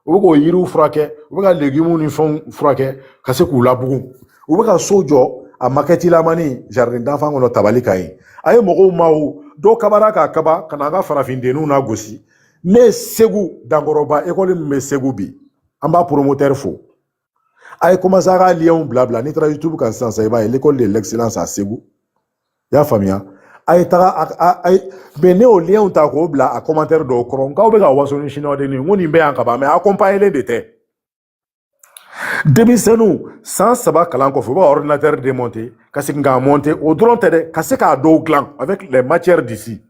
u bɛ k'o yiriw furakɛ u bɛ ka legumuw ni fɛnw furakɛ ka se k'u labugu u bɛ ka so jɔ a makɛtilamani jardin d'enfants kɔnɔ tabali kan yen a ye mɔgɔw maa dɔw kabara k'a kaba ka na an ka farafindenninw lagosi ne ye segu dankɔrɔba ekɔli min bɛ segu bi an b'a promoteur fo a ye kɔmanse a ka liyɛnw bila bila n'i taara youtube kan sisan sisan i b'a ye l'école de l'excellence à segu i y'a faamuya a ye taga a ye mais ne y'o liyɛnw ta k'o bila a kɔmantɛri dɔw kɔrɔ n k'aw bɛ ka waso ni siniwa dennin n ko nin bɛ yan ka ban mais akɔnpaɲelen de tɛ denmisɛnninw san saba kalan kɔfɛ u bɛ ka ordinateur demonte ka segin k'a monte o dɔrɔn tɛ dɛ ka se k'a dɔw dilan avec les matières d'ici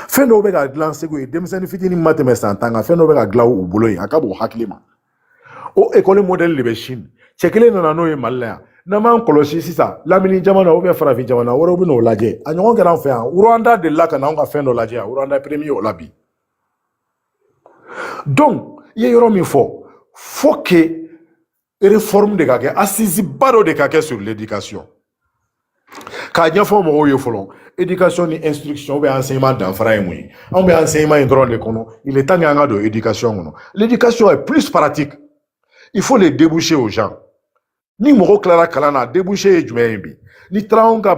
fɛn dɔw bɛ ka dilan segu ye denmisɛnnin fitinin ma tɛmɛ san tan kan fɛn dɔw bɛ ka dilan u bolo yen a ka bon hakili ma o ekɔli mɔdɛli de bɛ sini cɛ kelen nana n'o ye mali la yan n'an m'an kɔlɔsi sisan lamini jamana ou bien farafin jamana wɛrɛw bɛ n'o lajɛ a ɲɔgɔn kɛra an fɛ yan rwanda delila ka na anw ka fɛn dɔ lajɛ yan rwanda premier o la bi donc i ye yɔrɔ min fɔ faut que réforme de ka kɛ assise ba dɔ de ka kɛ sur l'éducation k'a ɲɛfɔ mɔgɔw ye fɔlɔ éducation ni instruction ou bien enseignement danfara ye mun ye anw bɛ enseignement in dɔrɔn de kɔnɔ il est temps que an ka don éducation kɔnɔ l'éducation est plus pratique il faut les débouchés aux gens ni mɔgɔ tilara kalan na débouché ye jumɛn ye bi n'i taara anw ka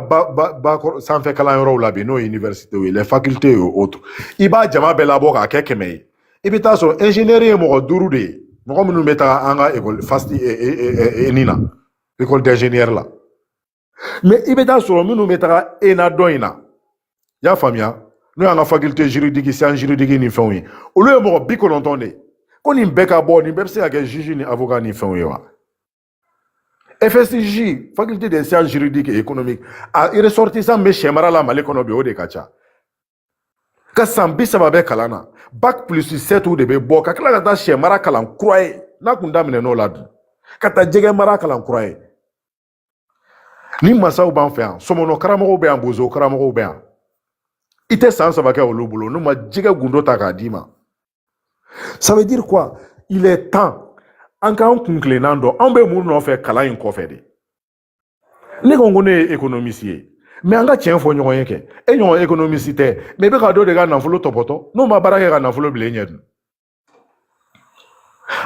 sanfɛ kalanyɔrɔw la bi n'o ye université ye les facultés et autres i b'a jama bɛɛ labɔ k'a kɛ kɛmɛ ye i bɛ t'a sɔrɔ ɛnzinɛri ye mɔgɔ duuru de ye mɔgɔ minnu bɛ taa an ka ekɔli fast eni na école d'ingénieurs la mais i bɛ t'a sɔrɔ minnu bɛ taga ena dɔ in na i y'a faamuya n'o y'an ka faculté juridique sciences juridiques ni fɛnw ye olu ye mɔgɔ bi kɔnɔntɔn de ye ko nin bɛɛ ka bɔ nin bɛɛ bɛ se ka kɛ juge ni avocat ni fɛnw ye wa FSJ, faculté des sciences juridiques et économiques, a ressortissant bɛ sɛ mara la Mali kɔnɔ bi o de ka ca ka san bi saba bɛ kalan na bac plus sept de bɛ bɔ ka tila ka taa sɛ mara kalan kura ye n'a kun daminɛ n'o la dun ka taa jɛgɛ mara kalan kura ye ni masaw b'an fɛ yan sɔmɔnɔ karamɔgɔw bɛ yan bozo karamɔgɔw bɛ yan i tɛ san saba kɛ olu bolo n'u ma jɛgɛ gundo ta k'a d'i ma Ça veut dire quoi Il est temps an k'an kun tilennan dɔn anw bɛ mun nɔfɛ kalan in kɔfɛ de ne ko ko ne ye économiste ye mais an ka tiɲɛ fɔ ɲɔgɔn ye kɛ e ɲɔgɔn économiste tɛ mais i bɛ ka dɔ de ka nafolo tɔpɔtɔ n'o ma baara kɛ ka nafolo bila e ɲɛ dun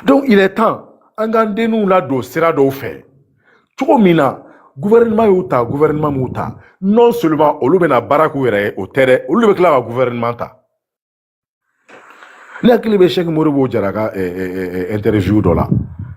donc il est temps an k'an denninw ladon sira dɔw fɛ cogo min na gouvernement y'u ta gouvernement m'u ta non seulement olu bɛna baara k'u yɛrɛ ye o tɛ dɛ olu de bɛ tila ka gouvernement ta ne hakili bɛ Cheikh Modibo Jara ka interview dɔ la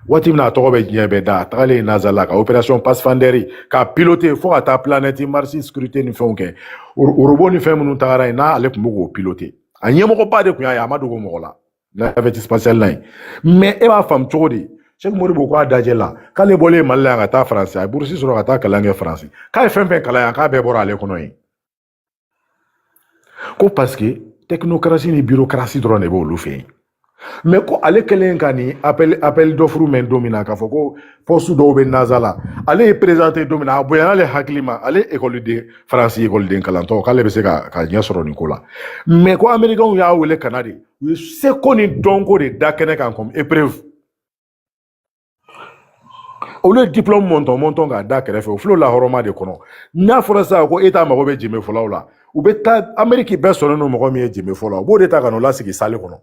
waati min na a tɔgɔ bɛ diɲɛ bɛɛ da a tagalen NASA la ka opération Pathfinder ka piloter fo ka taa planète Mars sécurité ni fɛnw kɛ robot ni fɛn minnu tagara yen n'ale tun bɛ k'o piloter a ɲɛmɔgɔba de tun y'a ye a ma dogo mɔgɔ la navette spatiale la yen mais e b'a faamu cogo di Cheikh Modibo k'a dajɛ la k'ale bɔlen mali la yan ka taa faransi a ye burusi sɔrɔ ka taa kalan kɛ faransi k'a ye fɛn fɛn kalan yan k'a bɛɛ bɔra ale kɔnɔ yen ko parce que technocratie ni bureaucratie dɔrɔn de b'olu fɛ yen mais ko ale kɛlen ka nin appel appel d'offre mɛn don min na k'a fɔ ko poste dɔw bɛ NASA la ale y'i présenter don min na a bonyana ale hakili ma ale ekɔliden faransi ekɔliden kalantɔ k'ale bɛ se ka ka ɲɛ sɔrɔ nin ko la mais ko amerikɛnw y'a wele ka na de u ye seko ni dɔnko de da kɛnɛ kan comme épreuve olu ye diplɔmu mɔntɔn mɔntɔn k'a da kɛrɛfɛ o filɛ o lahɔrɔma de kɔnɔ n'a fɔra sisan ko État mago bɛ jeme fɔlaw la u bɛ taa ameriki bɛɛ sɔnnen don mɔgɔ min ye jeme fɔla u b'o de ta ka n'o lasigi salle kɔnɔ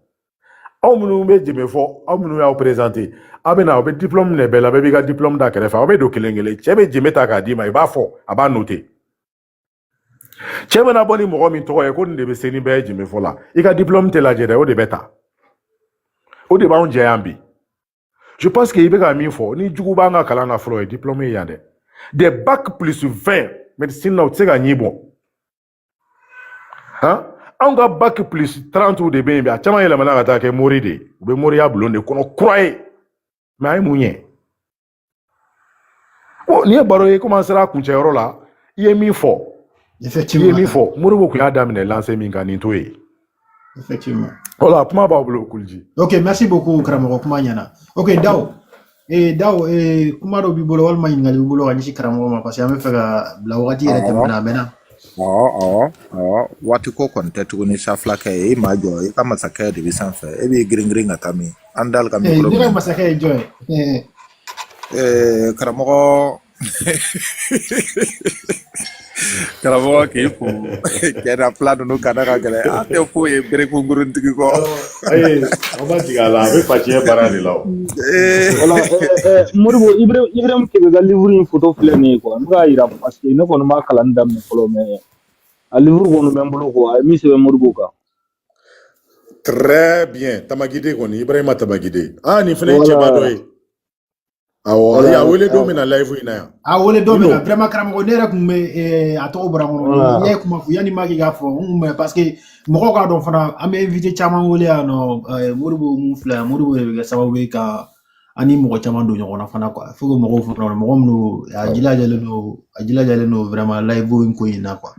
aw minnu bɛ jeme fɔ aw minnu y'aw présenter aw bɛ na u bɛ diplɔmu minɛ bɛɛ la bɛɛ b'i ka diplɔmu da kɛrɛfɛ aw bɛ don kelen kelen cɛ bɛ jeme ta k'a d'i ma i b'a fɔ a b'a noter cɛ bɛna bɔ ni mɔgɔ min tɔgɔ ye ko nin de bɛ se ni bɛɛ ye jemefɔ la i ka diplɔmu tɛ lajɛ dɛ o de bɛ ta o de b'anw jɛ yan bi je pense que i bɛ ka min fɔ ni jugu b'an ka kalan na fɔlɔ o ye diplɔmu ye yan dɛ des bac plus 20 médecine na u tɛ se ka ɲin bɔ han anw ka bac plus 30 de bɛ yen bi a caman yɛlɛmana ka taa kɛ mori de ye u bɛ moriya bulon de kɔnɔ kura ye mais a ye mun ɲɛ bon nin ye baro ye komi an sera a kuncɛ yɔrɔ la i ye min fɔ i ye min fɔ Modibo tun y'a daminɛ lancée min kan nin to ye effectivement voilà kuma b'a bolo kuliji ok merci beaucoup karamɔgɔ kuma ɲɛna ok daw ee daw ee kuma dɔ b'i bolo walima ɲininkali b'i bolo ka ɲɛsin karamɔgɔ ma parce que an b'a fɛ k'a bila wagati yɛrɛ tɛmɛna a mɛnna awɔ awɔ awɔ waati ko kɔni tɛ tuguni sa filakɛ ye i ma jɔ i ka masakɛ de bɛ sanfɛ e b'i girin girin ka taa min an dal ka micro minɛ. masakɛ ye jɔn ye eh, karamɔgɔ karamɔgɔ k'i fo kɛra fila ninnu ka da ka gɛlɛn an tɛ foyi ye berekunkurunitigi kɔ an ma jigin a la a bɛ faciyɛ baara de la o eh. wala eh, modibo ibrahim kebe ka livre in foto filɛ nin ye quoi n bɛ k'a yira parce que ne kɔni ma kalan daminɛ fɔlɔ mais a livre kɔni bɛ n bolo quoi a ye min sɛbɛn modibo kan Très bien. Tamagide kɔni, Ibrahima Tamagide. Ah, nin fana ye cɛba dɔ ye. Awɔ, ayi, a wele don min na live in na yan. A wele don min na, vraiment karamɔgɔ, ne yɛrɛ tun bɛ eh, a tɔgɔ bɔra n kɔnɔ. N'i ye kuma fɔ, yanni Maki k'a fɔ, n tun bɛ parce que mɔgɔw k'a dɔn fana, an bɛ invité caman wele yan nɔ, eh, Modibo min filɛ yan, Modibo de bɛ kɛ sababu ye ka an ni mɔgɔ caman don ɲɔgɔn na fana quoi. Faut que mɔgɔw fana dɔn, mɔgɔ minnu a jilajalen don, a jilajalen don vraiment live in ko in na quoi.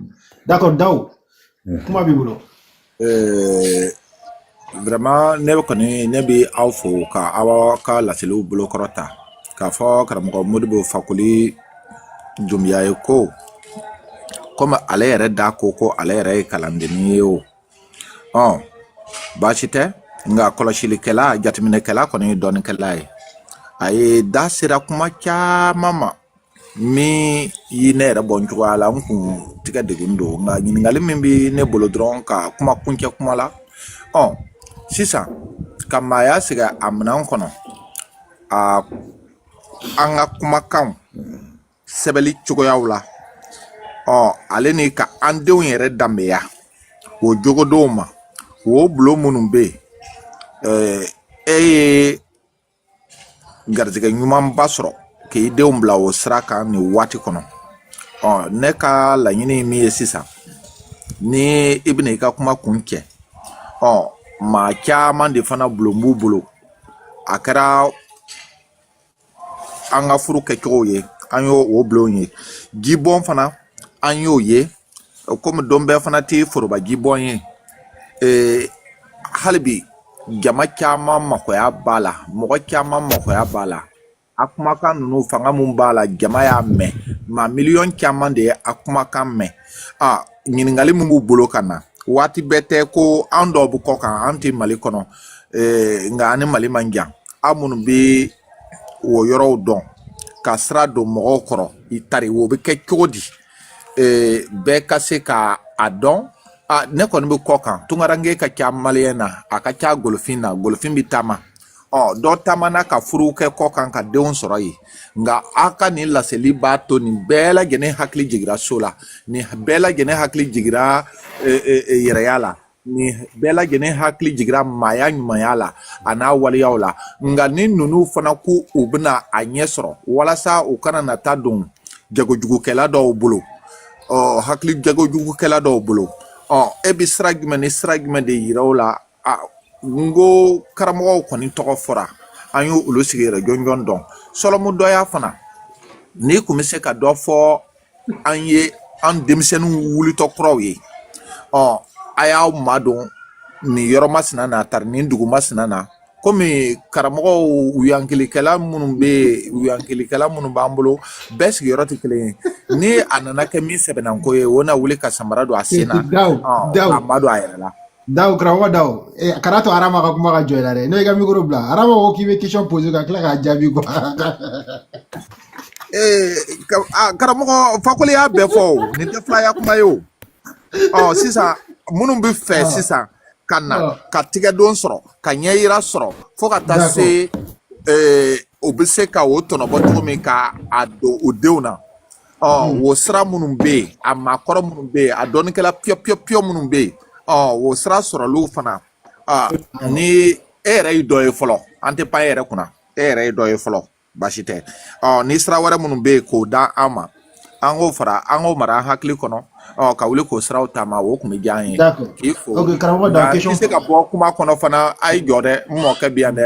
D'accord Dawu. kuma b'i bolo eh, vraiment ne kɔni ne bɛ aw fo ka aw ka laseliw bolo kɔrɔta k'a fɔ karamɔgɔ modibo fakoli dumbiya ye ko komi ale yɛrɛ da ko ko ale yɛrɛ ye kalandennin ye o ɔ baasi tɛ nka kɔlɔsilikɛla jateminɛkɛla kɔni ye dɔnnikɛla ye a ye da sera kuma caman ma min ye ne yɛrɛ bɔ n cogoya la n kun tigɛ degun don nka ɲininkali min bɛ ne bolo dɔrɔn ka kuma kuncɛ kuma la ɔ sisan ka maaya sigi a minɛn kɔnɔ a an ka kumakanw sɛbɛnni cogoyaw la ɔ ale ni ka an denw yɛrɛ danbeya o jogodonw ma o bulon minnu bɛ yen e ye garijɛgɛ ɲumanba sɔrɔ k'i denw bila o sira kan nin waati kɔnɔ ɔ ne ka laɲini min ye sisan ni i bɛna i ka kuma kuncɛ ɔ maa caman de fana bulon b'u bolo a kɛra an ka furu kɛcogow ye an y'o o bulon ye jibɔn fana an y'o ye komi don bɛɛ fana tɛ foroba jibɔn ye ee hali bi jama caman makoya b'a la mɔgɔ caman makoya b'a la a kumakan ninnu fanga min b'a la jama y'a mɛn maa miliyɔn caman de ye a kumakan mɛn a ɲininkali min b'u bolo ka na waati bɛɛ tɛ ko an dɔw bɛ kɔ kan an tɛ mali kɔnɔ ee nka an ni mali man jan aw minnu bɛ o yɔrɔw dɔn ka sira don mɔgɔw kɔrɔ i tari o bɛ kɛ cogo di bɛɛ ka se ka a dɔn a ne kɔni bɛ kɔ kan tunkaranke ka ca maliyɛn na a ka ca golofin na golofin bɛ taama ɔ dɔ taamana ka furu kɛ kɔ kan ka denw sɔrɔ yen nka a ka nin laseli b'a to nin bɛɛ lajɛlen hakili jigira so la nin bɛɛ lajɛlen hakili jigira yɛrɛya la nin bɛɛ lajɛlen hakili jigira maaya ɲumanya la a n'a waleyaw la nka ni ninnu fana ko u bɛna a ɲɛ sɔrɔ walasa u kana na taa don jagojugukɛla dɔw bolo ɔ hakili jagojugukɛla dɔw bolo ɔ e bɛ sira jumɛn ni sira jumɛn de yira u la a n ko karamɔgɔw kɔni tɔgɔ fɔra an y'olu sigiyɔrɔ jɔnjɔn dɔn sɔlɔmu dɔya fana n'i kun bɛ se ka dɔ fɔ an ye an denmisɛnninw wulitɔ kuraw ye ɔ a y'aw madon nin yɔrɔ masina na tari nin dugu masina na komi karamɔgɔw yankilikɛla minnu bɛ yen yankilikɛla minnu b'an bolo bɛɛ sigiyɔrɔ tɛ kelen ye ni a nana kɛ min sɛbɛnnanko ye o na wuli ka samara don a sen na a ma don a yɛrɛ la Daw karamɔgɔ daw eh, a kana to arama ka kuma ka jɔ i la dɛ n'o y'i ka mikoro bila arama ko k'i bɛ question poser ka tila k'a jaabi quoi Ee, ka- a, karamɔgɔ fakoli y'a bɛɛ fɔ o nin tɛ filaya kuma ye o ɔ sisan minnu bɛ fɛ sisan ka na ɔ ka tigɛdon sɔrɔ ka ɲɛyira sɔrɔ fo ka taa d'accord se ee, u bɛ se ka o tɔnɔbɔ cogo min ka a don u denw na ɔ hmm. wo sira minnu bɛ yen a maakɔrɔ minnu bɛ yen a dɔnnikɛla piyɔ piyɔ piyɔ minnu bɛ yen ɔ wo sira sɔrɔliw fana ni e yɛrɛ ye dɔ ye fɔlɔ an tɛ pan e yɛrɛ kunna e yɛrɛ ye dɔ ye fɔlɔ baasi tɛ ɔ ni sira wɛrɛ minnu bɛ yen k'o da an ma an k'o fara an k'o mara an hakili kɔnɔ ɔ ka wuli k'o siraw taama o tun bɛ diya an ye k'i fo nka i tɛ se ka bɔ kuma kɔnɔ fana a y'i jɔ dɛ n mɔkɛ bi yan dɛ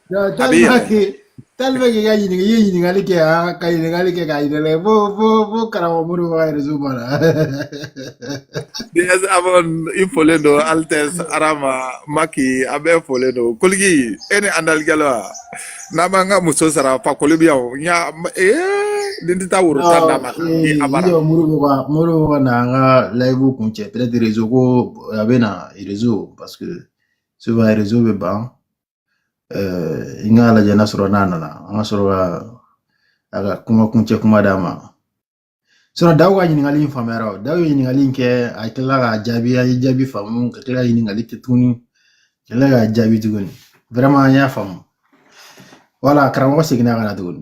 tellement k'i ka ɲininka i ye ɲininkali kɛ yan ka ɲininkali kɛ k'a yira lɛ fo fo fo karamɔgɔ mori ka réseau banna. ds abon i folen don altesse arama maki a bɛɛ folen don koligi e ni andalikɛla wa n'an b'an ka muso sara fakoli bi yan o n y'a ee nin tɛ taa woro tan d'a ma ni a bara. mori bɛ ka mori bɛ ka na an ka live kuncɛ peut être réseau ko a bɛ na réseau parce que souvent réseau bɛ ban. n k'a lajɛ n'a sɔrɔ n'a nana an ka sɔrɔ ka a ka kuma kuncɛ kuma d'a ma sinon daw ka ɲininkali in faamura o daw ye ɲininkali in kɛ a tilala k'a jaabi a ye jaabi faamu ka tila ka ɲininkali kɛ tuguni ka tila k'a jaabi tuguni vraiment an y'a faamu wala karamɔgɔ seginna ka na tuguni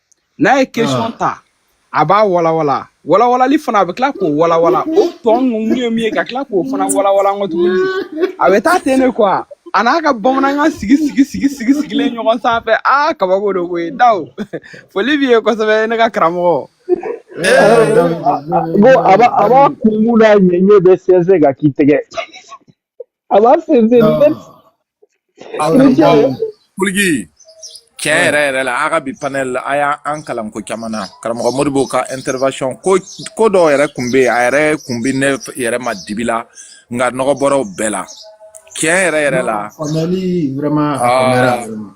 n'a ye question ta a b'a walawala walawalali fana a bɛ tila k'o walawala o tɔ ninnu ye min ye ka tila k'o fana walawala n kɔ tuguni a bɛ taa ten de quoi a n'a ka bamanankan sigi sigi sigi sigi sigilen ɲɔgɔn sanfɛ aa kabako don koyi daw foli b'i ye kosɛbɛ ne ka karamɔgɔ bon a b'a a b'a kunbu n'a ɲɛɲɛ bɛɛ sɛnsɛn ka k'i tɛgɛ I've I've seen it. No. That's Ala Ni cɛ. bawo kuligi tiɲɛ yɛrɛ yɛrɛ la a ka bi panel la a y'a an kalan ko caman na karamɔgɔ modibo ka intervention ko ko dɔw yɛrɛ kun bɛ yen a yɛrɛ kun bɛ ne yɛrɛ ma dibi la nka nɔgɔ bɔra u bɛɛ la tiɲɛ yɛrɛ yɛrɛ la faamuyali vraiment a faamuyara Ah. vraiment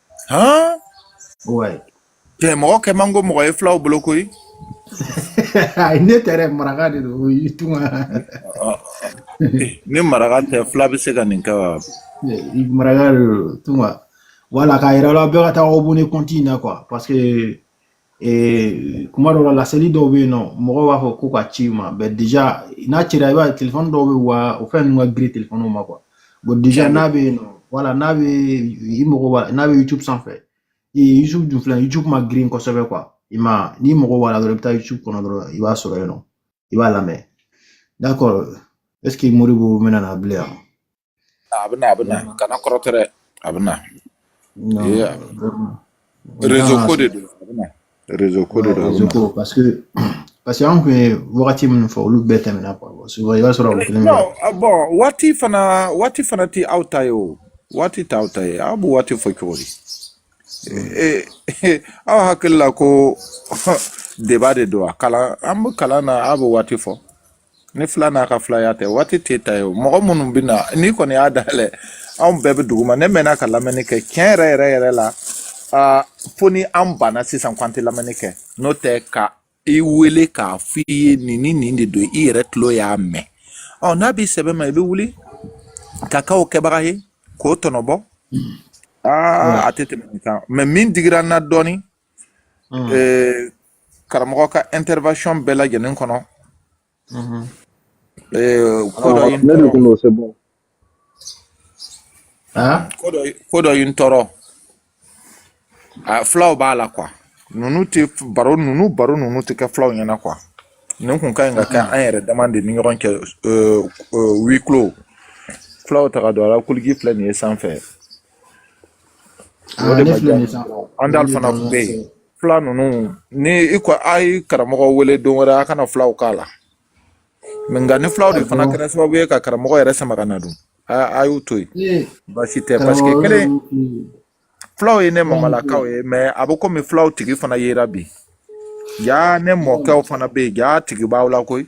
han ouais tɛ mɔgɔ kɛ man go mɔgɔ ye fulaw bolo koyi ayi ne tɛ dɛ maraka de don o y'i tunka ni maraka tɛ fula bɛ se ka nin kɛ wa maraka de don tunka voilà k'a yira la bɛɛ ka taa abonner compte in na quoi parce que ee kuma dɔw la laseli dɔw bɛ yen nɔ mɔgɔw b'a fɔ ko ka ci ma mais déjà n'a cira i b'a ye telefɔni dɔw bɛ wa o fɛn ninnu ka girin telefɔniw ma quoi bon déjà n'a bɛ yen nɔ voilà n'a bɛ i mago b'a n'a bɛ youtube sanfɛ ee youtube dun filɛ youtube ma girin kosɛbɛ quoi i ma n'i mago b'a la dɔrɔn i bɛ taa youtube kɔnɔ dɔrɔn i b'a sɔrɔ yen nɔ i b'a lamɛn d'accord est ce que modibo bɛna na bilen yan a bɛ na a bɛ na kana kɔrɔtɔ dɛ a bɛ na Yeah. rezo ko de don a bɛ na rezo ko de don a bɛ na ko parce que parce que an kun ye wagati minnu fɔ olu bɛɛ tɛmɛna quoi bon souvent i b'a sɔrɔ u kelen bɛ non ah, bon waati fana waati fana tɛ aw ta ye o waati tɛ aw ta ye aw b'o waati fɔ cogo di Eh, eh, aw hakili la ko débat de don a kalan an bɛ kalan na aw bɛ waati fɔ ni fila n'a ka filaya tɛ waati tɛ ta ye o mɔgɔ minnu bɛ na n'i kɔni y'a dayɛlɛ anw bɛɛ bɛ duguma ne mɛnna ka lamɛnni kɛ tiɲɛ yɛrɛ yɛrɛ yɛrɛ la fo ni an banna sisan ko an tɛ lamɛnni kɛ n'o tɛ ka i wele k'a f'i ye nin ni nin de don i yɛrɛ tulo y'a mɛn ɔ n'a b'i sɛbɛ ma i bɛ wuli ka k'o kɛbaga ye k'o tɔnɔbɔ aa a tɛ tɛmɛ nin kan mais min digira n na dɔɔnin ee, karamɔgɔ ka intervention bɛɛ lajɛlen kɔnɔ ee, ko dɔ ye n ne de tɔɔrɔ kun don c'est bon Hein? ko dɔ ye- ko dɔ ye n tɔɔrɔ a fulaw b'a la quoi ninnu tɛ baro ninnu baro ninnu tɛ kɛ fulaw ɲɛna quoi nin kun ka ɲi ka kɛ an yɛrɛ dama de ni ɲɔgɔn cɛ ee, ee, huis clos fulaw taga don a la kuligi filɛ nin ye sanfɛ andal fana kun bɛ yen fila ninnu ni i ko a ye karamɔgɔ wele don wɛrɛ a kana filaw k'a la nka ni filaw de fana kɛra sababu ye ka karamɔgɔ yɛrɛ sama ka na dun a y'u to yen baasi tɛ parce que kelen filaw ye ne mamalakaw ye mais a bɛ komi filaw tigi fana yera bi ja ne mɔkɛw fana bɛ yen ja tigi b'aw la koyi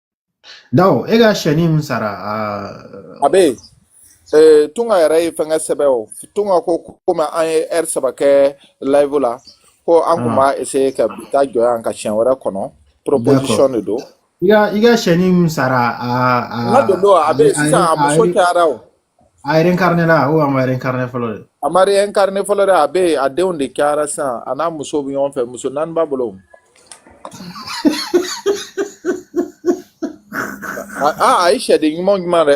Dawo e ka sɛni min sara a bɛ yen eh, tunga yɛrɛ ye fɛnkɛ sɛbɛn o tunga ko komi an ye ɛri saba kɛ live la ko an kun b'a essayer ka bi ta jɔ yan ka siɲɛ wɛrɛ kɔnɔ proposition de don i ka i ka sɛni min sara a a n ka don don a bɛ yen sisan a muso cayara o a reincarné la ou a ma reincarné fɔlɔ de a ma reincarné fɔlɔ dɛ a bɛ yen a denw de cayara sisan a n'a muso bɛ ɲɔgɔn fɛ muso naani b'a bolo aa a ye sɛden ɲuman ɲuman dɛ